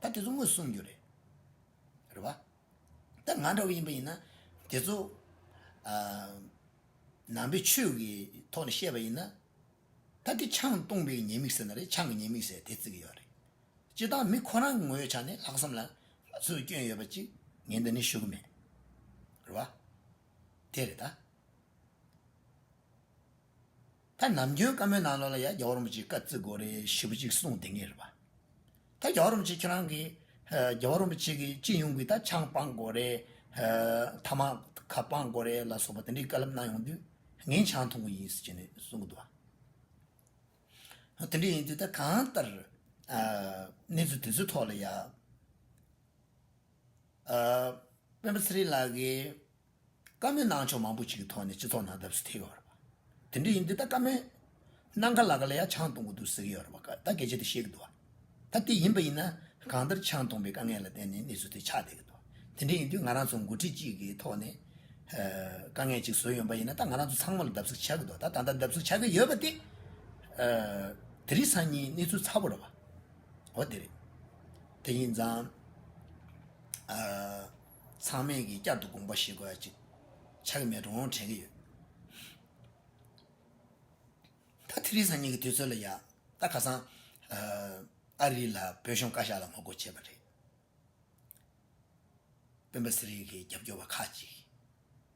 ད་དེ་ཚོ་དངུལ་བསྲུང་རྒྱུ་རེད། རེད་བ། ད་ང་འདྲ་བོ་ཡིན་པ་ཡིན་ན། དེ་ཚོ། ནང་པའི་ཆོས་ཀྱི་ཐོག་ནས་བཤད་པ་ཡིན་ན། ད་དེ་ཆང་བཏུངས་པའི་ཉེས་དམིགས་ཟེར་ན་རེད་ཆང་གི་ཉེས་དམིགས་ཟེར་དེ་བརྩི་གི་ཡོད་རེད། སྤྱིར་བཏང་མི་ཁོ་རང་གི་ངོ་ཡོད་ཆ་ནས་ལྷག་བསམ་ལ་སུས་སྐྱོན་ཡོད་པ་གཅིག་ངས་འདི་ནས་ཞུ་གི་མེད། རེད་བ། དེ་རེད་ད། ད་ནམ་རྒྱུན་བཀའ་མོལ་ནང་ལོགས་ལ་ཡ་རྒྱ་བོ་རིན་པོ་ཆེ་བཀའ་བརྩི་དགོས་རེད་ཞུ་བ་ཅིག་གསུངས་དེ་ངེས་རེད་པ། ད་རྒྱ་བོ་རིན་པོ་ཆེ་ཁྱེད་རང་གིས་རྒྱ་བོ་རིན་པོ་ཆེ་གི་སྤྱི་ཡོངས་ཀྱི་ད་ཆང་སྤང་དགོས་རེད། ཐ་མག་ཁ་སྤང་དགོས་རེད་ལ་སོགས་པ་དེ་འདྲའི་བཀའ་ལབ་གནང་ཡོང་དུས་ངས་ཆང་འཐུང་གི་ཡིན་ཟེར་གྱི་གསུངས་གི་འདུག་བ། དེ་འདྲ་ཡིན་དུས་ད་གང་ལྟར་གནས་ཚུལ་དེ་ཚོའི་ཐོག་ལ་ཡ། དཔོན་པོ་ཚེ་རིང་ལགས་ཀྱིས། བཀའ་མོལ་གནང་ཕྱོགས་མང་པོ་ཞིག་གི་ཐོག་ནས་སྤྱི་ཚོགས་ནང་བརྡབ་གསིག་ཐེབས་ཡོད་རེད། དེ་འདྲ་ཡིན་དུས་ད་བཀའ་མོལ་གནང་ག་ལ་ག་ལ་ཡང་ཆང་བཏུང་གི་འདུག་ཟེར་གྱི་ཡོད་རེད་བ་ད་གལ་ཆེ་དེ་ཤེས་ཀྱི་འདུག་བ་ད་དེ་ཡིན་པ་ཡིན་ན་གང་ལྟར་ཆང་བཏུང་པའི་དཀའ་ངལ་ལ་བརྟེན་ནས་གནས་ཚུལ་དེ་ཆགས་བསྡད་ཀྱི་འདུག་དེ་འདྲ་ཡིན་དུས་ང་རང་ཚོ་མགོ་ཁྲིད་ཅིག་གི་ཐོག་ནས་དཀའ་ངལ་ཅིག་བཟོས་ཡོང་པ་ཡིན་ན་ད་ང་རང་ཚོ་ཚང་མ་ལ་བརྡབ་གསིག་ཆགས་ཀྱི་འདུག་ད་ད་ལྟ་བརྡབ་གསིག་ཆགས་ཀྱི་ཡོད་པ་དེ་དེ་རིགས་སང་ཉིན་གནས་ཚུལ་ཚ་བོ་རེད་བ་འོ་དེ་རེད་དེ་ཡིན་ཙང། ཚང་མས་ཀྱིས་བསྐྱར་དུ་དགོངས་པ་བཞེས་དགོས་ཡ་གཅིག་ཆགས་ཀྱི་མེད་འགྲོ་འོང་དྲན་གྱི་ཡོད། ད་ཐི་རི་ཟ་གཉིས་ཀྱི་དུས་ཚོད་ལ་ཡག་ད་ཁ་སང། ཨ་རི་ལ་བོད་གཞུང་བཀའ་ཤག་ལ་ངོ་རྒོལ་བྱས་པ་རེད། སྤེན་པ་ཟེར་ཡི་གེ་རྒྱབ་སྐྱོར་བ་ཁག་ཅིག།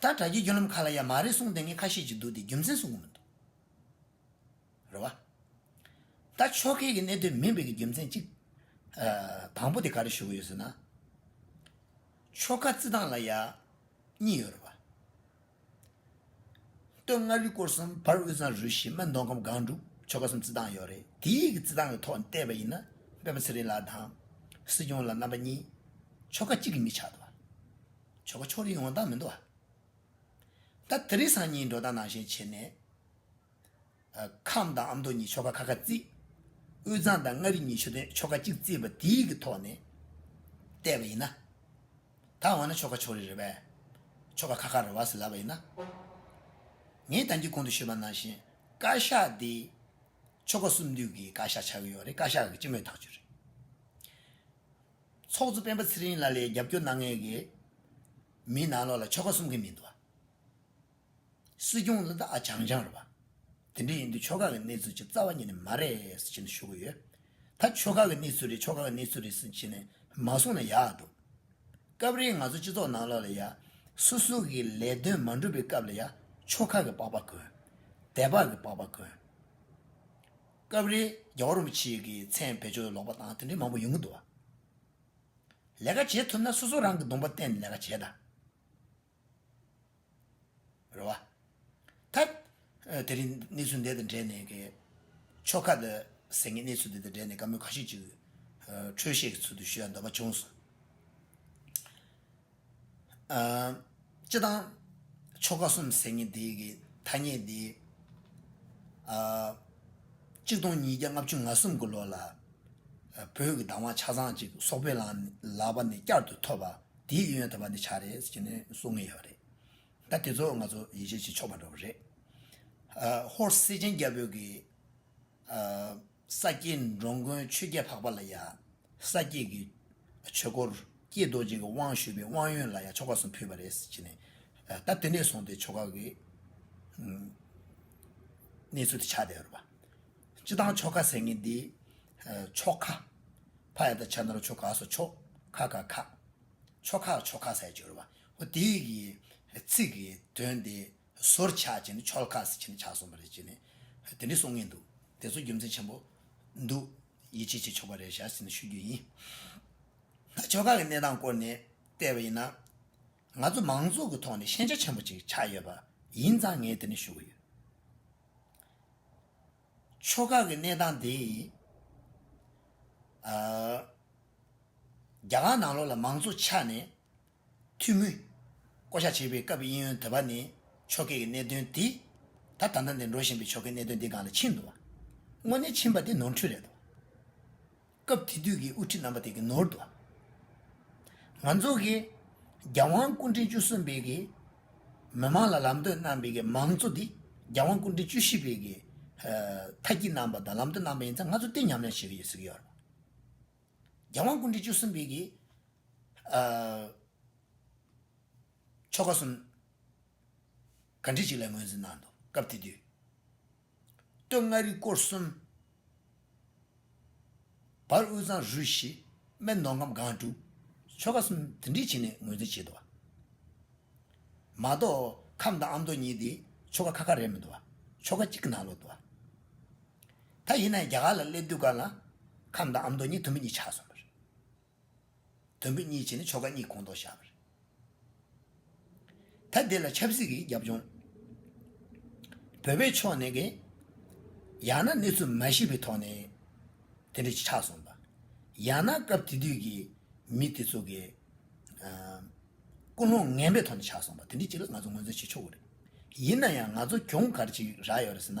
ད་དྲ་རྒྱའི་རྒྱུ་ལམ་ཁ་ལ་ཡ་མ་རེད་གསུངས་དེ་ངས་ཁ་ཤེས་ཀྱི་འདུག་དེ་རྒྱུ་མཚན་གསུངས་གི་མི་འདུག་རེད་བ། ད་ཕྱོགས་སྐད་ཀྱི་གནད་དོན་མིན་པའི་གི་རྒྱུ་མཚན་གཅིག། དང་པོ་དེ་ག་རེ་ཞུ་གི་ཡོད་ཟེར་ན། ཆོལ་ཁ་རྩི་སྟངས་ལ་ཡ། གཉིས་ཡོད་རེད་བ། སྟོད་མངའ་རིས་སྐོར་གསུམ་བར་དབུས་གཙང་རུ་བཞི་སྨད་མདོ་ཁམས་སྒང་དྲུག་ཆོལ་ཁ་གསུམ་རྩི་སྟངས་ཡོད་རེད་དེ་ཡིག་གི་རྩི་སྟངས་ཀྱི་ཐོག་ནས་བལྟས་པ་ཡིན་ན་སྤེན་པ་ཚེ་རིང་ལགས་དང། སྲིད་སྐྱོང་ལ་རྣམ་པ་གཉིས། ཆོལ་ཁ་གཅིག་གི་མི་ཆགས་ཐུབ་བ། ཆོ་ག་ཕྱོགས་རིས་ཡོངས་དག་མི་འདོར་བ། ད་དི་རི་སང་ཉིན་འགྲོ་དང་ནང་བཞིན་བྱེད། ནས་ཁམས་དང་ཨ་མདོ་གཉིས་ཆོ་ག་ཁ་ཁ་བརྩིས། དབུས་གཙང་དང་མངའ་རིས་གཉིས་ཆུ་སྟོན་ཆོ་ག་གཅིག་བརྩིས་པ་དེའི་གི་ཐོག་ནས་བལྟས་པ་ཡིན་ན། ད་འོ་ན་ཆོ་ག་ཕྱོགས་རིས་རེད་བས། ཆོ་ག་ཁ་ཁ་རེད་བ་ཟེར་ལབ་པ་ཡིན་ན། ངས་དང་གི་གོང་དུ་ཤོད་པ་ནང་བཞིན་བཀའ་ཤག་དེ་ཆོ་ག་གསུམ་འདུས་གི་བཀའ་ཤག་ཆགས་གི་ཡོད་རེད་བཀའ་ཤག་གི་སྤྱི་མོས་ཐག་གཅོད་རེད། ཚོགས་གཙོ་སྤེན་པ་ཚེ་རིང་ལ་ལས་རྒྱབ་སྐྱོར་གནང་མཁན་གྱི་མི་ནང་ལོགས་ལ་ཆོལ་ཁ་གསུམ་གྱི་མི་འདུག་བ། སྲིད་སྐྱོང་ལ་དག་ཆང་ཆང་རེད་བ། དེ་འདྲ་ཡིན་དུས་ཆོལ་ཁ་གི་གནས་ཚུལ་ཆེས་རྩ་བ་ཉིད་ནས་མ་རེད་ཟེར་བཞིན་དུ་ཞུ་གི་ཡོད། ད་ཆོལ་ཁ་གི་གནས་ཚུལ་རེད་ཆོལ་ཁ་གི་གནས་ཚུལ་རེད་ཟེར་བཞིན་ནས་མ་གསུངས་ན་ཡག་འདུག། སྐབས་རེ་ང་ཚོ་སྤྱི་ཚོགས་ནང་ལོགས་ལ་ཡ། སུ་སུ་གི་ལས་དོན་མ་འགྲུབ་པའི་སྐབས་ལ་ཡ་ཆོལ་ཁ་གི་པགས་པ་གོན། དད་པ་གི་པགས་པ་གོན། སྐབས་རེ་རྒྱ་བོད་རིན་པོ་ཆེ་གི་མཚན་བེད་སྤྱོད་ལོག་པ་དང་དེ་འདྲའི་མང་པོ་ཡོང་གི་འདུག་བ། ལས་ཀ་བྱེད་ཐུབ་ན་སོ་སོ་རང་གི་སྡོམ་པ་བརྟེན་ནས་ལས་ཀ་བྱེད་ད། རེད་བ། ད། དེ་རིང་གནས་ཚུལ་འདི་དང་འབྲེལ་ནས་གི། ཕྱོགས་ཁག་ཏུ་ཟེར་ངེས་གནས་ཚུལ་འདི་དང་འབྲེལ་ནས་བཀའ་མོལ་ག་ཤེད་ཅིག། འཕྲོས་ཤེས་ཀྱི་ཚུལ་དུ་ཞུ་ཡ་འདོད་པ་བྱུང་སོང། སྤྱི་དང། ཆོ་ག་གསུམ་ཟེར་ངེས་དེ་གི་ཐ་སྙད་དེ། གཅིག་སྟོང་ཉིས་བརྒྱ་ལྔ་བཅུ་ང་གསུམ་གི་ལོ་ལ། བོད་ཀྱི་གདམས་བ་ཆ་ཚང་ཅིག་སོག་པོའི་ལག་པ་ནས་བསྐྱར་དུ་ཐོབ་པ་དེའི་ཡོན་ཡོད་དམ་པ་འདི་ཆགས་རེད་ཟེར་གྱི་ནི་གསུང་ངེས་ཡོད་རེད། ད་དེ་ཚོ་ང་ཚོ་ཡིད་ཆེས་བྱེད་ཆོག་པ་འགྲོ་གི་རེད། ཧོར་སེ་ཆེན་རྒྱ་བོད་ཀྱི། ས་སྐྱའི་འགྲོ་མགོན་ཆོས་རྒྱལ་འཕགས་པ་ལ་ཡང་ས་སྐྱའི་གི་ཆོས་སྐོར་ཀྱི་རྡོ་རྗེ་གི་དབང་ཞུས་པའི་དབང་ཡོན་ལ་ཡང་ཆོ་ག་གསུམ་ཕུལ་བ་རེད་ཟེར་གྱི་ནས་ད་དེ་འདྲས་སོང་སྟེ་ཆོ་ག་གི་གནས་ཚུལ་དེ་ཆགས་བསྡད་ཡོད་པ། སྤྱི་བཏང་ཆོ་ག་ཟེར་མཁན་འདི་ཆོ་ཁ་ཕ་ཡ་ད་ཆ་ན་རུ་ཆོ་ག་སོགས་ཆོ་ཁ་ཁ་ཁ་ཆོ་ཁ་ཆོ་ཁ་ཟེར་གྱི་ཡོད་པ། དེའི་གི་ཚིག་གི་དོན་དེ་སོར་ཆགས་ཀྱི་ནི་ཆོལ་ཁ་སི་ཁྱི་ནི་ཆགས་སོང་པ་རེད་ཅེས་ནི་དེ་འདྲས་གསུང་ངེས་འདུག་དེ་ཚོ་རྒྱུ་མཚན་ཆེན་པོ་འདུག་ཡིད་ཆེས་བྱེད་ཆོག་པ་རེད་ཞག་སི་ནི་ཤོད་རྒྱུ་ཡིན། ད་ཆོལ་ཁ་གི་གནས་སྟངས་སྐོར་ནས་བལྟས་པ་ཡིན་ན། ང་ཚོ་མང་ཚོགས་ཀྱི་ཐོག་ནས་ཤེས་བྱ་ཆེན་པོ་ཅིག་ཆགས་ཡོད་པ་ཡིན་ཙང་ངས་དེ་ནི་ཞུ་གི་ཡོད། ཆོལ་ཁ་གི་གནས་སྟངས་དེ། རྒྱ་གར་ནང་ལོགས་ལ་མང་ཚོགས་ཆ་ནས། ཐུགས་མོས། བསྐོ་བཞག་བྱེད་པའི་སྐབས་དབྱིན་ཡོན་དོད་པ་ནི། ཆོ་གས་ཀྱི་གནད་དོན་དེ། ད་ད་ནངས་འདིར་འགྲོ་བཞིན་པའི་ཆོ་གའི་གནད་དོན་འདི་གང་ལ་ཕྱིན་འདུག་བ། དངོས་གནས་ཕྱིན་པ་དེ་ནོར་འཁྲུལ་རེད་འདུག་བ། སྐབས་དེ་དུས་ཀྱི་དབུ་ཁྲིད་རྣམ་པ་དེ་གི་ནོར་འདུག་བ། ང་ཚོ་གི། རྒྱལ་དབང་སྐུ་ཕྲེང་བཅུ་གསུམ་པའི་གི། མི་མང་ལ་ལམ་སྟོན་གནང་པའི་གི་མང་གཙོ་དེ། རྒྱལ་དབང་སྐུ་ཕྲེང་བཅུ་བཞི་པའི་གི། མཐའ་སྐྱིད་གནང་པ་དང་ལམ་སྟོན་གནང་པ་ཡིན་ཚ་ང་ཚོ་གཏིང་ཉམས་ཉམས་བྱེད་གི་ཡོད་ཟེར་གི་ཡོད་རེད་བ། རྒྱལ་དབང་ཀུན་འདུས་བཅུ་གསུམ་པའི་གིས། ཆོ་ག་གསུམ་ག་འབྲི་གཅིག་ལ་ངོས་འཛིན་གནང། སྐབས་དེ་དུས་སྟོད་མངའ་རིས་སྐོར་གསུམ། བར་དབུས་གཙང་རུས་བཞི་སྨད་མདོ་ཁམས་སྒང་དྲུག། ཆོ་ག་གསུམ་དུ་འབྲི་བྱེད་ནས་ངོས་འཛིན་བྱེད་དོ། མ་གཏོགས་ཁམས་དང་ཨ་མདོ་གཉིས་དེ་ཆོ་ག་ཁ་ཁ་རེད་མི་འདུག་ཆོ་ག་གཅིག་གི་ནང་ལོག་འདུག། ད་ཡིན་ན་ཡང་རྒྱ་གར་ལ་སླེབས་དུས་གར་ལ། ཁམས་དང་ཨ་མདོ་གཉིས་དུམ་བུ་གཉིས་ཆགས་སོང་བ་རེད། དུམ་བུ་གཉིས་བྱས་ནས་ཆོལ་ཁ་གཉིས་གོང་མཐོར་བཞག་པ་རེད། ད་འདི་ལ་ཆབ་སྲིད་ཀྱི་རྒྱབ་ལྗོངས། བོད་པའི་ཕྱོགས་ནས་ཀྱི། ཡང་ན་གནས་ཚུལ་མ་ཤེས་པའི་ཐོག་ནས། དེ་འདྲ་ཞིག་ཆགས་སོང་བ། ཡང་ན་སྐབས་དེ་དུས་ཀྱི་མི་དེ་ཚོ་གི། ཀུན་སློང་ངན་པའི་ཐོག་ནས་ཆགས་སོང་བ་དེ་འདྲ་ཅིག་ལ་ང་ཚོ་ངོས་འཛིན་བྱེད་ཆོག་གི་རེད། ཡིན་ན་ཡང་ང་ཚོ་གྱོང་གར་ཅིག་རག་ཡོད་རེད་ཟེར་ན།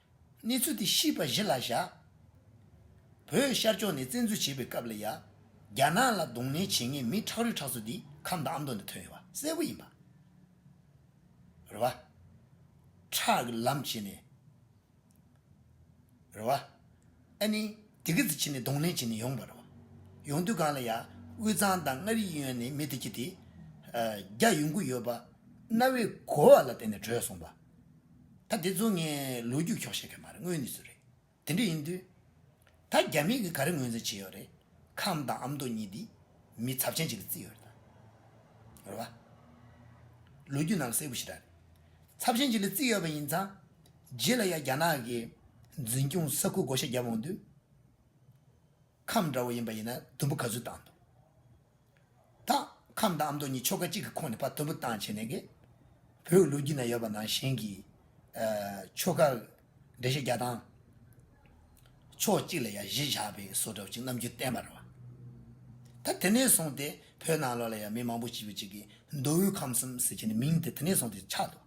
གནས་ཚུལ་དེ་ཤིས་པ་གཞི་ལ་བཞག། བོད་ཤར་ཕྱོགས་ནས་བཙན་འཛུལ་བྱས་པའི་སྐབས་ལ་ཡ། རྒྱ་ནག་ལ་རྡུང་ལེན་བྱེད་མཁན་མི་ཁྲག་རུས་ཁྲག་ཚོ་འདི་ཁམས་དང་ཨ་མདོ་ནས་ཐོན་ཡོད་པ་གསལ་བོ་ཡིན་པ་རེད་བ། ཁྲག་གི་ལམ་བྱེད་ནས་རེད་བ། ཨ་ནི་དེ་གི་ཚེ་བྱེད་ནས་རྡུང་ལེན་བྱེད་ནས་ཡོང་བ་རེད་བ། ཡོང་དུས་གང་ལ་ཡ། དབུས་གཙང་དང་མངའ་རིས་གཡོན་ནས་མི་དེ་གྱི་དེ། རྒྱ་ཡོང་གི་ཡོད་པ། གནའ་བོའི་གོ་བ་ལ་བརྟེན་ནས་བྲོས་སོང་བ། ད་དེ་ཚོ་ངས་ལོ་རྒྱུས་འཁྱོག་བཤད་མཁན་མ་རེད་དངོས་ནས་སུ་རེད་དེ་འདྲ་ཡིན་དུས། ད་རྒྱ་མིས་གིས་ག་རེ་ངོས་འཛིན་བྱེད་ཡོད་རེད་ཁམས་དང་ཨ་མདོ་གཉིས་འདིས་མི་ཚབས་ཆེན་ཅིག་ལ་བརྩི་ཡོད་རེད་དམ། ལོ་རྒྱུས་ནང་ལ་གསལ་པོ་ཞིག་གྲགས་རེད། ཚབས་ཆེན་ཅིག་ལ་བརྩི་ཡོད་པ་ཡིན་ཙང། རྗེས་ལ་ཡང་རྒྱ་ནག་གིས་འཛིན་སྐྱོང་ས་ཁུལ་བགོ་བཤའ་བརྒྱབ་འོང་དུས། ཁམས་འདྲ་བོ་ཡིན་པ་ཡིན་ན་དུམ་བུ་ག་ཚོད་བཏང་འདུག་ད། ཁམས་དང་ཨ་མདོ་གཉིས་ཆོལ་ཁ་གཅིག་གི་ཁོངས་ནས་ཕར་དུམ་བུ་བཏང་བྱས་ནས་གིས། བོད་ལུགས་རྒྱུད་ན་ཡོད་པ་ནང་བཞིན་གྱི། ཆོལ་ཁ། འགྲེལ་བཤད་བརྒྱ་བཏང། ཕྱོགས་གཅིག་ལ་ཡང་བཞི་བཞག་པའི་བཟོ་འདྲ་བོ་ཅིག་རྣམ་འགྱུར་བསྟན་པར་བ། ད་དེ་ནས་བཟུང་སྟེ་བོད་ནང་ལོགས་ལ་ཡང་མི་མང་པོ་ཞིག་ཡོད་ཅིག་གིས་མདོ་དབུས་ཁམས་གསུམ་ཟེར་བྱས་ནས་མིང་དེ་དེ་ནས་བཟུང་སྟེ་ཆགས་འདུག།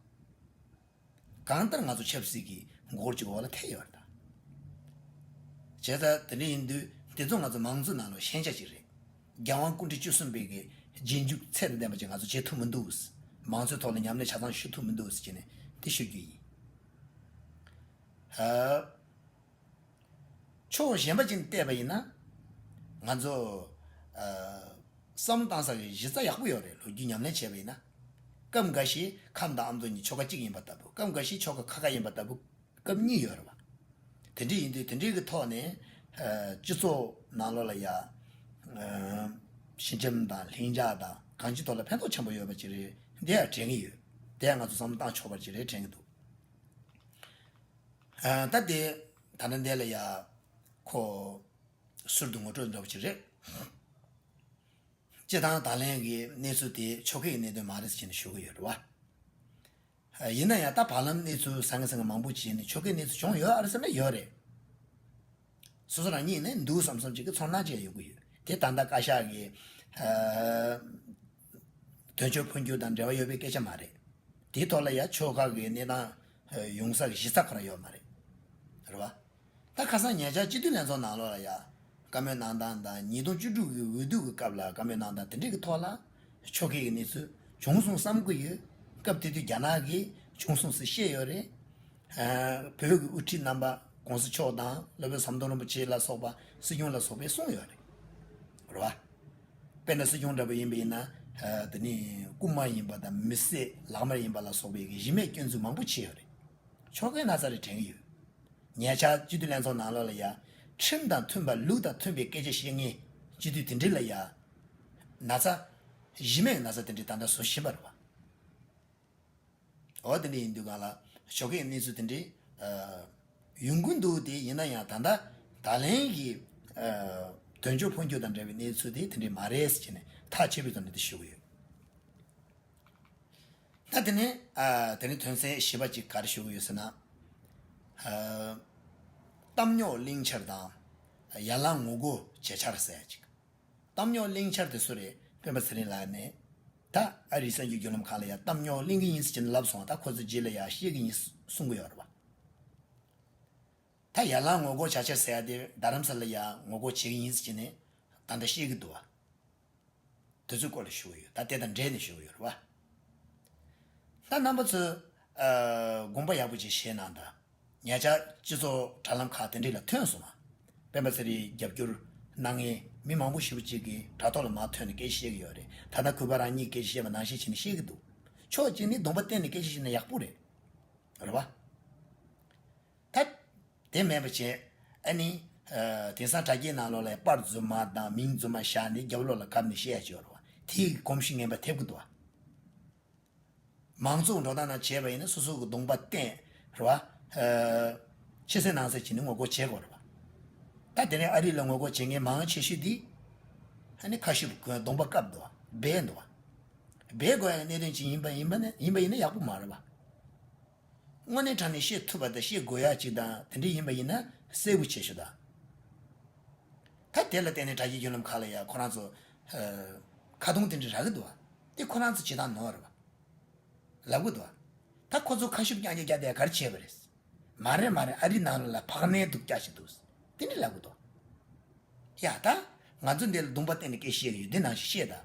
གང་ལྟར་ང་ཚོ་ཆབ་སྲིད་ཀྱི་མགོ་ལྕོག་འོག་ལ་ཐལ་ཡོད་པ་དང། བྱས་ཙང་དེ་འདྲ་ཡིན་དུས་འདི་ཚོ་ང་ཚོ་མང་གཙོའི་ནང་ལོགས་ཤན་ཆགས་ཅིག་རེད། རྒྱལ་དབང་སྐུ་འཕྲེང་བཅུ་གསུམ་པའི་གི་རྗེས་འཇུག་ཚད་ལྡན་པ་ཅིག་ང་ཚོ་བྱེད་ཐུབ་མི་འདུག། མང་གཙོའི་ཐོག་ལ་ཉམས་ལེན་ཆ་ཚང་ཞུ་ཐུབ་མི་འདུག་ཅེས་ནས་འདི་ཞུ་རྒྱུ་ཡིན། ཕྱོགས་གཞན་པ་ཅིག་ནས་བལྟས་པ་ཡིན་ན། ང་ཚོ། བསམ་བློ་བཏང་ས་གི་གཞི་རྩ་ཡག་པོ་ཡོད་རེད་ལོ་རྒྱུས་ཉམས་ལེན་བྱས་པ་ཡིན་ན། སྐབས་འགའ་ཞིག་ཁམས་དང་ཨ་མདོ་གཉིས་ཆོ་ག་གཅིག་ཡིན་པ་ལྟ་བུ་སྐབས་འགའ་ཞིག་ཆོ་ག་ཁ་ཁ་ཡིན་པ་ལྟ་བུ་སྐབས་གཉིས་ཡོད་རེད་བ། དེ་འདྲ་ཡིན་དུས་དེ་འདྲའི་གི་ཐོག་ནས་སྤྱི་ཚོགས་ནང་ལོག་ལ་ཡ། ཞི་འཇམ་དང་ལྷིང་འཇགས་དང་གང་ཅི་ཐོག་ལ་ཕན་ཐོགས་ཆེན་པོ་ཡོད་པ་ཅིག་རེད་དེ་ཡང་དྲན་གི་ཡོད། དེ་ཡང་ང་ཚོ་བསམ་བློ་བཏང་ཆོག་པ་ཅིག་རེད་དྲན་གི་འདུག་ད་དེ་ད་ལྟ་འདས་ལ་ཡ། ཁོ། ཟུར་དུ་ངོ་སྤྲོད་འདོད་པ་ཅིག་རེད། སྤྱི་བཏང་དང་ལེན་གྱི་གནས་ཚུལ་དེ་ཆོལ་ཁའི་གནད་དོན་མ་རེད་ཅེས་ཞུ་གི་ཡོད་རེད་བ། ཡིན་ན་ཡང་ད་བར་ལམ་གནས་ཚུལ་ཟང་ངེ་ཟང་ངེ་མང་པོ་བྱས་ནས་ཆོལ་ཁའི་གནས་ཚུལ་བྱུང་ཡོད་ཨ་རེད་ཟེར་ན་ཡོད་རེད། སོ་སོ་རང་ཉིད་ནས་འདུག་བསམ་བསམ་ཅིག་གི་ཚོར་སྣང་ཅིག་ཡང་ཡོད་ཀྱི་ཡོད་དེ་ད་ལྟ་བཀའ་ཤག་གི། དོན་གཅོད་འཕོ་འགྱུར་དང་འབྲེལ་བ་ཡོད་པའི་སྐད་ཆ་མ་རེད། དེའི་ཐོག་ལ་ཡང་ཆོལ་ཁ་གི་གནས་སྟངས་ཡོང་ས་གཞི་རྩ་གོ་ར་ཡོད་མ་རེད། རེད་བ། ད་ཁ་སང་ཉེ་ཆར་སྤྱི་འཐུས་ལྷན་ཚོགས་ནང་ལོ་ལ་ཡར་བཀའ་མོལ་གནང་སྟངས་དང་ཉིས་སྟོང་བཅུ་དྲུག་གི་འོས་བསྡུ་གི་སྐབས་ལ་བཀའ་མོལ་གནང་སྟངས་དེ་འདྲའི་གི་ཐོག་ལ་ཆོ་གའི་གི་གནས་ཚུལ་བྱུང་སོང་བསམ་གི་ཡོད། སྐབས་དེ་དུས་རྒྱ་ནག་གི་བྱུང་སོང་ཟིག་ཤེས་ཡོད་རེད། བོད་ཀྱི་དབུ་ཁྲིད་རྣམ་པ ྋགོང་ས་མཆོག་དང་སློབ་དཔོན་ཟམ་གདོང་རིན་པོ་ཆེ་ལ་སོགས་པ་སྲིད་སྐྱོང་ལ་སོགས་པས་གསུངས་ཡོད་རེད། རེད་བ། དཔེར་ན་སྲིད་སྐྱོང་འདྲ་པོ་ཡིན་པ་ཡིན་ན་དེ་ནི་རྐུ་མ་ཡིན་པ་དང་མི་བསད་ལག་དམར་ཡིན་པ་ལ་སོགས་པའི་གི་གཞི་མེད་སྐྱོན་འཛུགས་མང་པོ་བྱས་ཡོད་རེད། ཆོ་གའི་ན་ཚ་རེ་དྲན་གི་ཡོད། ཉེ་ཆར་སྤྱི་འཐུས་ལྷན་ཚོགས་ནང་ལོགས་ལ་ཡ། ཁྲིམས་དང་མཐུན་པར་ལུགས་དང་མཐུན་པའི་སྐད་ཆ་བཤད་ངེས། སྤྱི་འཐུས་དེ་འདྲི་ལ་ཡ། ན་ཚ། གཞི་མེད་ན་ཚ་དེ་འདྲི་ད་ལྟ་བཟོ་བཞིན་པ་རེད་བ། འོ་དེ་འདྲི་ཡིན་དུས་གང་ལགས་ཞོགས་ཀྱི་གནས་ཚུལ་དེ་འདྲི། ཡོང་གི་འདུག་དེ་ཡིན་ན་ཡང་ད་ལྟ་ད་ལན་གྱི། དོན་གཅོད་འཕོ་འགྱུར་དང་འབྲེལ་བའི་གནས་ཚུལ་དེ་དེ་འདྲི་མ་རེད་ཟེར་ནས་ཐག་ཆད་པའི་དོན་དེ་ཞུ་གི་ཡོད། ད་དེ་ནི་དེ་ནི་དོན་གསལ་ཞེས་པ་ཅིག་གར་ཞུ་གི་ཡོད་ཟེར་ན། གཏམ་རྙོག་གླིང་ཆར་དང། ཡར་ལངས་ངོ་རྒོལ་བྱེད་ཆར་ཟེར་ཡ་ཅིག། གཏམ་རྙོག་གླིང་ཆར་དེ་སུ་རེད། སྤེན་པ་ཚེ་རིང་ལགས་ནས་ད་ཨ་རིའི་གསར་འགྱུར་བརྒྱུད་ལམ་ཁག་ལ་ཡང་གཏམ་རྙོག་གླིང་གི་ཡིན་ཟེར་གྱི་འདུག་ལབ་སོང་ད་ཁོ་ཚོའི་རྗེས་ལ་ཡང་ཤེས་ཀྱི་ཡིན་གསུང་གི་ཡོད་རེད་བ། ད་ཡར་ལངས་ངོ་རྒོལ་བྱ་ཆར་ཟེར་ཡ་དེ་རྡ་རམ་ས་ལ་ཡང་ངོ་རྒོལ་བྱེད་ཀྱི་ཡིན་ཟེར་གྱི་ནས་ད་ད་ཤེས་ཀྱི་འདུག་བ། དུས་ཚོད་སྐོར་ལ་ཞུ་གི་ཡོད་ད་དེ་དང་འབྲེལ་ནས་ཞུ་གི་ཡོད་རེད་བ། ད་རྣམ་པ་ཚོས་དགོངས་པ་ཡག་པོ་ཅིག་བཞེས་གནང་དང་ཉེ་ཆར་སྤྱི་ཚོགས་དྲ་ལམ་ཁག་དེ་འདྲི་ལ་ཐོན་སོང་བ། སྤེན་པ་ཚེ་རིང་རྒྱབ་སྐྱོར་གནང་མཁན་མི་མང་པོ་ཞིག་པོ་ཅིག་གི་དྲ་ཐོག་ལ་མ་ཐོན་ནས་སྐད་ཆ་བཤད་གི་ཡོད་རེད་ད་ནང་ཁུལ་བ་རང་ཉིད་ཀྱི་སྐད་ཆ་བཤད་པ་ནང་བཤད་བྱེད་ནི་བཤད་གི་འདུག་ཕྱོགས་གཅིག་ནི་དགོངས་པ་བརྟེན་ནས་སྐད་ཆ་བཤད་ན་ཡག་པོ་རེད། ཐབས། དེ་མེད་པར་བྱས། ཨཱ་ནི། དེང་སང་དྲ་རྒྱའི་ནང་ལོགས་ལས་པར་རྫུན་མ་དང་མིང་རྫུན་མ་བཞག་ནས་རྒྱབ་ལོགས་ལ་གབ་ནས་བཤད་ཆོག་རོ། དེའི་གོམས་གཤིས་ངན་པ་ཐེབས་ཀི་འདུག་བ། མང་གཙོ་འགྲོ་སྟངས་ནང་བྱས་པ་ཡིན་ན་སོ་སོ་གི་གདོང་པ་བསྟན། རེད་བ། ཕྱི་གསལ་ནང་གསལ་བྱས་ནས་ངོ་རྒོལ་བྱེད་དགོས་རེད་བ། ད་དེ་རིང་ཨ་རི་ལ་ངོ་རྒོལ་བྱེད་མཁན་མང་ཆེ་ཤོས་འདི། ཨཱ་ནི་ཁ་ཤི་བ་ཁོའི་གདོང་པ་བཀབ་འདུག་བ། སྦས་འདུག་བ། སྦས་དགོས་ཡ་གནད་དོན་ཅིག་ཡིན་པ་ཡིན་པ་ཡིན་པ་ཡིན་ན་ཡག་པོ་མ་རེད་བ། དངོས་གནས་དྲང་ནས་བཤད་ཐུབ་པ་དང་བཤད་དགོས་ཡག་ཅིག་དང་དེ་འདྲས་ཡིན་པ་ཡིན་ན་གསལ་བོ་བྱེད་ཤོག་དང། ད་དེ་ལ་བརྟེན་ནས་དྲ་རྒྱའི་རྒྱུད་ལམ་ཁག་ལ་ཡང་ཁོ་རང་ཚོ། ཁ་རྡུང་དེ་འདྲས་རག་གི་འདུག་བ། དེ་ཁོ་རང་ཚོ་བྱེད་སྟངས་ནོར་རེད་བ། ལབ་གི་འདུག་བ། ད་ཁོ་ཚོ་ཁ་ཤུབ་རྐྱང་རྐྱང་རྒྱབ་པའི་གར་བྱས་པ་རེད། མ་རེད་མ་རེད་ཨ་རིའི་ནང་ལ་བག་མའི་སྡུག་རྒྱག་བྱེད་འདུག་དེ་འདྲས་ལབ་གི་འདུག་བ། ཡ་ད། ང་ཚོ་འདི་ལ་རྡུང་པ་བརྟེན་ནས་སྐད་བཤད་གི་ཡོད་དེ་ནང་བཞིན་བཤད་དང།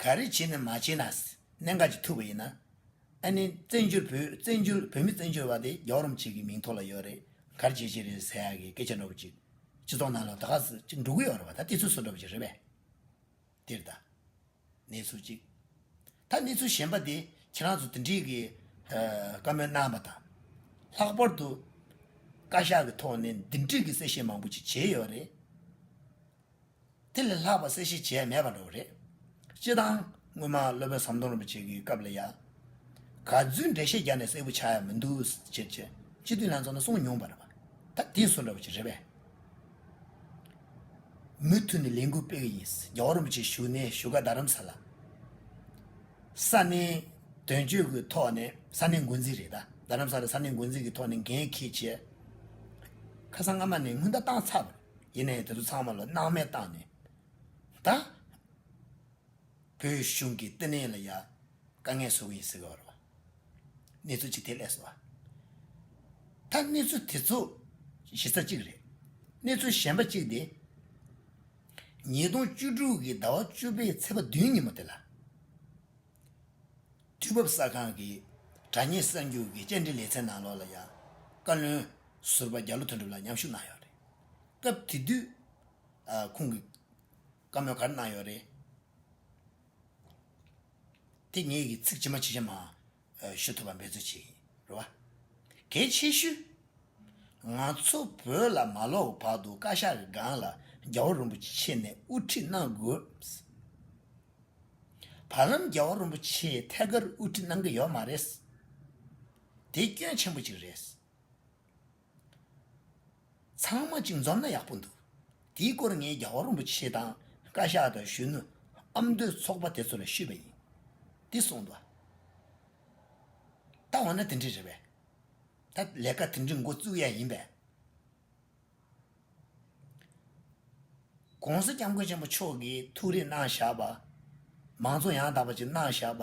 ག་རེ་བྱེད་ནས་མ་བྱས་ན་གནད་འགག་ཅིག་ཐུག་པ་ཡིན་ན། ཨ་ནི་བཙན་བྱོལ་བོད་བཙན་བྱོལ་བོད་མི་བཙན་བྱོལ་བ་དེ་རྒྱའོ་རོམ་ཅིག་གི་མིང་ཐོག་ལ་ཡོད་རེད་གར་བྱེད་ཅིག་རེད་ཟེར་ཡག་གི་སྐད་ཆ་འགྲོ་བ་ཅིག་སྤྱི་ཚོགས་ནང་ལ་ད་ག་ཟེ་ཅིག་འགྲོ་གི་ཡོད་རེད་བ་ད་དེ་ཚོས་བཟོ་འགྲོ་བ་ཅིག་རེད་པས། འདིར་ད་གནས་ཚུལ་ཅིག་ད་གནས་ཚུལ་གཞན་པ་དེ་ཁྱེད་རང་ཚོ་དེ་འདྲིས་གི་བཀའ་མོལ་གནང་བ་དང། ལྷག་པར་དུ་བཀའ་ཤག་གི་ཐོག་ནས་འདི་འདྲིས་གི་གསལ་བཤད་མང་པོ་ཅིག་བྱས་ཡོད་རེད། དེ་ལས་ལྷག་པ་གསལ་བཤད་བྱས་མེད་པ་འདྲ་བོ་རེད། སྤྱིར་བཏང་སྔོན་མ་སློབ་དཔོན་ཟམ་གདོང་རིན་པོ་ཆེ་གི་སྐབས་ལ་ཡང། ག་རྫུན་འགྲེལ་བཤད་རྒྱ་ནས་གསལ་བོ་ཆགས་ཡ་མི་འདུག་ཟེར་ཅེས་སྤྱི་འཐུས་ལྷན་ཚོགས་ནས་གསུངས་མྱོང་པ་རེད་པ། ད་དེ་སུ་འདྲ་བོ་ཅིག་རེད་པས། མུ་མཐུད་ནས་ལས་འགུལ་སྤེལ་གི་ཡིན། རྒྱ་བོ་རིན་པོ་ཆེ་བཞུགས་གནས་བཞུགས་སྒར་རྡ་རམ་ས་ལ། ས་གནས་དོན་གཅོད་ཀྱི་ཐོག་ནས་ས་གནས་འགོ་འཛིན་རེད་ད། རྡ་རམ་ས་ལ་ས་གནས་འགོ་འཛིན་གྱི་ཐོག་ནས་འགན་འཁེལ་བྱས། ཁ་སང་སྔ་མ་ནས་སྔུན་བརྡ་བཏང་ཚར་བ་རེད། ཡིན་ནའི་དེ་ཚོ་ཚང་མ་ལ་སྣང་མེད་བཏང་ནས་ད། བོད་གཞུང་གི་བསྟི་གནས་ལ་ཡ། དཀའ་ངལ་བཟོ་གི་ཡིན་ཟེར་བའོ། གནས་ཚུལ་ཅི་དེ་ལས་སོ། ད་གནས་ཚུལ་དེ་ཚོ་གཞི་རྩ་གཅིག་རེད། གནས་ཚུལ་གཞན་པ་གཅིག་དེ། ཉིས་སྟོང་བཅུ་དྲུག་གི་ཟླ་བ་བཅུ་པའི་ཚེས་པ་བདུན་ཉིན་མོ་དེ་ལ། དུས་བབ་གསར་ཁང་གི་དྲ་གཉེར་གསར་འགྱུར་གྱི་བཅར་འདྲི་ལེ་ཚན་ནང་ལོགས་ལ་ཡ། བཀའ་བློན་ཟུར་པ་རྒྱ་ལོ་དོན་གྲུབ་ལགས་མཉམ་ཞུགས་གནང་ཡོད་རེད། སྐབས་དེ་དུས་ཁོང་གིས་བཀའ་མོལ་ག་རེ་གནང་ཡོད་རེད། དེ་ངེད་ཀྱིས་ཚིག་ཇི་མ་ཇི་བཞིན་མ་ཞུ་ཐུབ་པ་འབད་རྩོལ་བྱེད་ཀྱི་རེད་བ། གལ་ཆེ་ཤོས། ང་ཚོ་བོད་ལ་མ་ལོག་བར་དུ་བཀའ་ཤག་གི་སྒང་ལ་རྒྱ་བོ་རིན་པོ་ཆེ་ནས་དབུ་ཁྲིད་གནང་དགོས། བར་རམ་རྒྱ་བོ་རིན་པོ་ཆེའི་ཐད་ཀར་དབུ་ཁྲིད་གནང་གི་ཡོད་མ་རེད། དེ་སྐྱོན་ཆེན་པོ་གཅིག་རེད། ཚང་མ་གཅིག་འཛོམས་ན་ཡག་པོ་འདུག་དེའི་སྐོར་ངས་རྒྱ་བ་རིན་པོ་ཆེ་དང་བཀའ་ཤག་དང་གཞོན་ནུ་ཨ་མདོའི་ཚོགས་པ་དེ་ཚོ་ལ་ཞུས་པ་ཡིན། འདི་གསུངས་འདུག་ད་འོ་ན་དེ་འདྲས་རེད་པས། ད་ལས་ཀ་དེ་འདྲས་འགོ་བཙུགས་ཡས་ཡིན་པས། གོང་ས་སྐྱབས་མགོན་ཆེན་པོ་མཆོག་གིས་ཐུགས་རེ་གནང་བཞག་པ། མང་གཙོ་ཡང་དག་པ་ཅིག་གནང་བཞག་པ།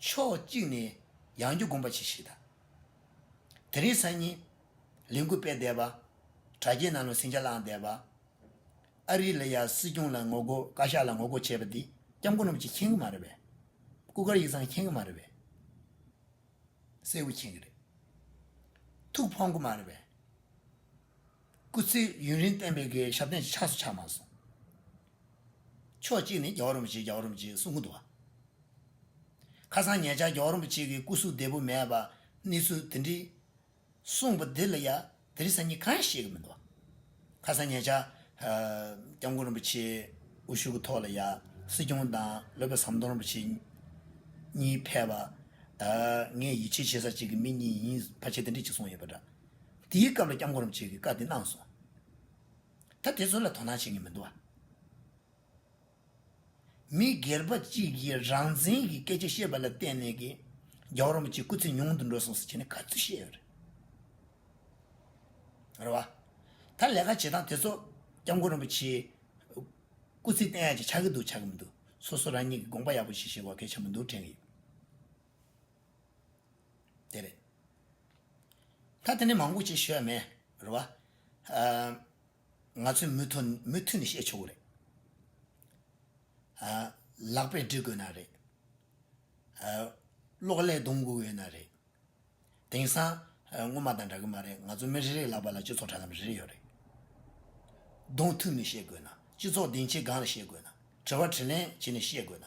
ཕྱོགས་གཅིག་ནས་ཡང་རྒྱུ་སྒོམ་པ་ཆེ་ཞིག་དང། དེ་རིང་སང་ཉིན་ལས་འགུལ་སྤེལ་བསྡད་པ། དྲ་རྒྱའི་ནང་ལ་ཟིང་ཆ་བསླངས་བསྡད་པ། ཨ་རི་ལ་ཡ་སྲིད་སྐྱོང་ལ་ངོ་རྒོལ་བཀའ་ཤག་ལ་ངོ་རྒོལ་བྱས་པ་འདི་སྐྱབས་མགོན་རྣམས་ཀྱིས་མཁྱེན་གི་མ་རེད་པས། སྐུ་དཀར་ཡིག་ཚང་མཁྱེན་གི་མ་རེད་པས། གསལ་བོ་མཁྱེན་གི་རེད། ཐུགས་ཕོངས་གི་མ་རེད་པས། སྐུ་ཚེ་ཡུན་རིང་བསྟན་པའི་དགེ་བའི་ཞབས་བརྟན་ཆགས་སུ་ཆགས་མ་སོང། ཕྱོགས་གཅིག་ནས་རྒྱལ་བ་རིན་པོ་ཆེ་རྒྱལ་བ་རིན་པོ་ཆེའི་གསུང་ཁུང་དུ། ཁ་སང་ཉེ་ཆར་རྒྱལ་བ་རིན་པོ་ཆེ་གི་སྐུ་གཟུགས་བདེ་པོ་མེད་པ་གནས་ཚུལ་དེ་འདྲི། གསུངས་པ་འདི་ལ་ཡ་དེ་རིགས་སང་ཉིན་གང་ཡང་བཤད་ཀྱི་མི་འདུག། ཁ་སང་ཉེ་ཆར། སྐྱབས་མགོན་རིན་པོ་ཆེའི་དབུ་བཞུགས་ཀྱི་ཐོག་ལ་ཡ་སྲིད་སྐྱོང་དང་བློ་བཟང་ཟམ་གདོང་རིན་པོ་ཆེ་གཉིས་ཕེབས་པ། ངས་ཡིད་ཆེས་བྱེད་ས་གཅིག་གི་མི་གཉིས་ཡིན་ཕ་ཆེ་དེ་འདྲས་གཅིག་གསུངས་ཡོད་པ་འདྲ། དེའི་སྐབས་ལ་སྐྱབས་མགོན་རིན་པོ་ཆེ་གིས་བཀའ་དེ་གནང་སོང། ད་དེ་ཚོ་ལ་དོ་སྣང་བྱེད་མཁན་མི་འདུག་བ། མི་སྒེར་པ་གཅིག་གིས་རང་བཙན་གྱི་སྐད་ཆ་བཤད་པ་ལ་བརྟེན་ནས་ཀྱི་རྒྱ་བོར་རམ་གྱི་སྐུ་ཚེ་ཉུང་དུ་འགྲོ་སོང་ཟེར་བྱས་ནས་ག་ཚོད་བཤད་ཡོད་རེད། རེད་བ། ད་ལས་ཀ་བྱེད་སྟངས་དེ་ཚོ་སྐྱབས་མགོན་རིན་པོ་ཆེའི་སྐུ་ཚེ་བརྟན་ཡག་ཅིག་ཆགས་ཀྱི་འདུག་ཆགས་ཀྱི་མི་འདུག་སོ་སོ་རང་ཉིད་ཀྱི་དགོངས་པ་ཡག་པོ་ཞིག་བཞེས་དགོས་གལ་ཆེན་པོ་འདུག་དྲན་གྱི་ཡོད། དེ་རེད། ད་དེ་ནས་མང་པོ་བྱེད་ཤོས་མེད་རེད་བ། ང་ཚོས་མུ་མཐུད་ནས་བཤད་ཆོག་གི་རེད། ལག་པས་འབྲི་དགོས་ན་རེད། གློག་ཀླད་བརྡུང་དགོས་ཡོད་ན་རེད། དེང་སང་སྔོན་མ་དང་འདྲ་གི་མ་རེད་ང་ཚོ་མི་རེ་རེའི་ལག་པ་ལ་སྤྱི་ཚོགས་དྲ་ལམ་རེ་རེ་ཡོད་རེད། བརྡུང་ཐུབ་ནས་བཤད་དགོས་ན། སྤྱི་ཚོགས་སྡིངས་ཆའི་སྒང་ལ་བཤད་དགོས་ན། དྲི་བ་དྲི་ལན་བྱེད་ནས་བཤད་དགོས་ན།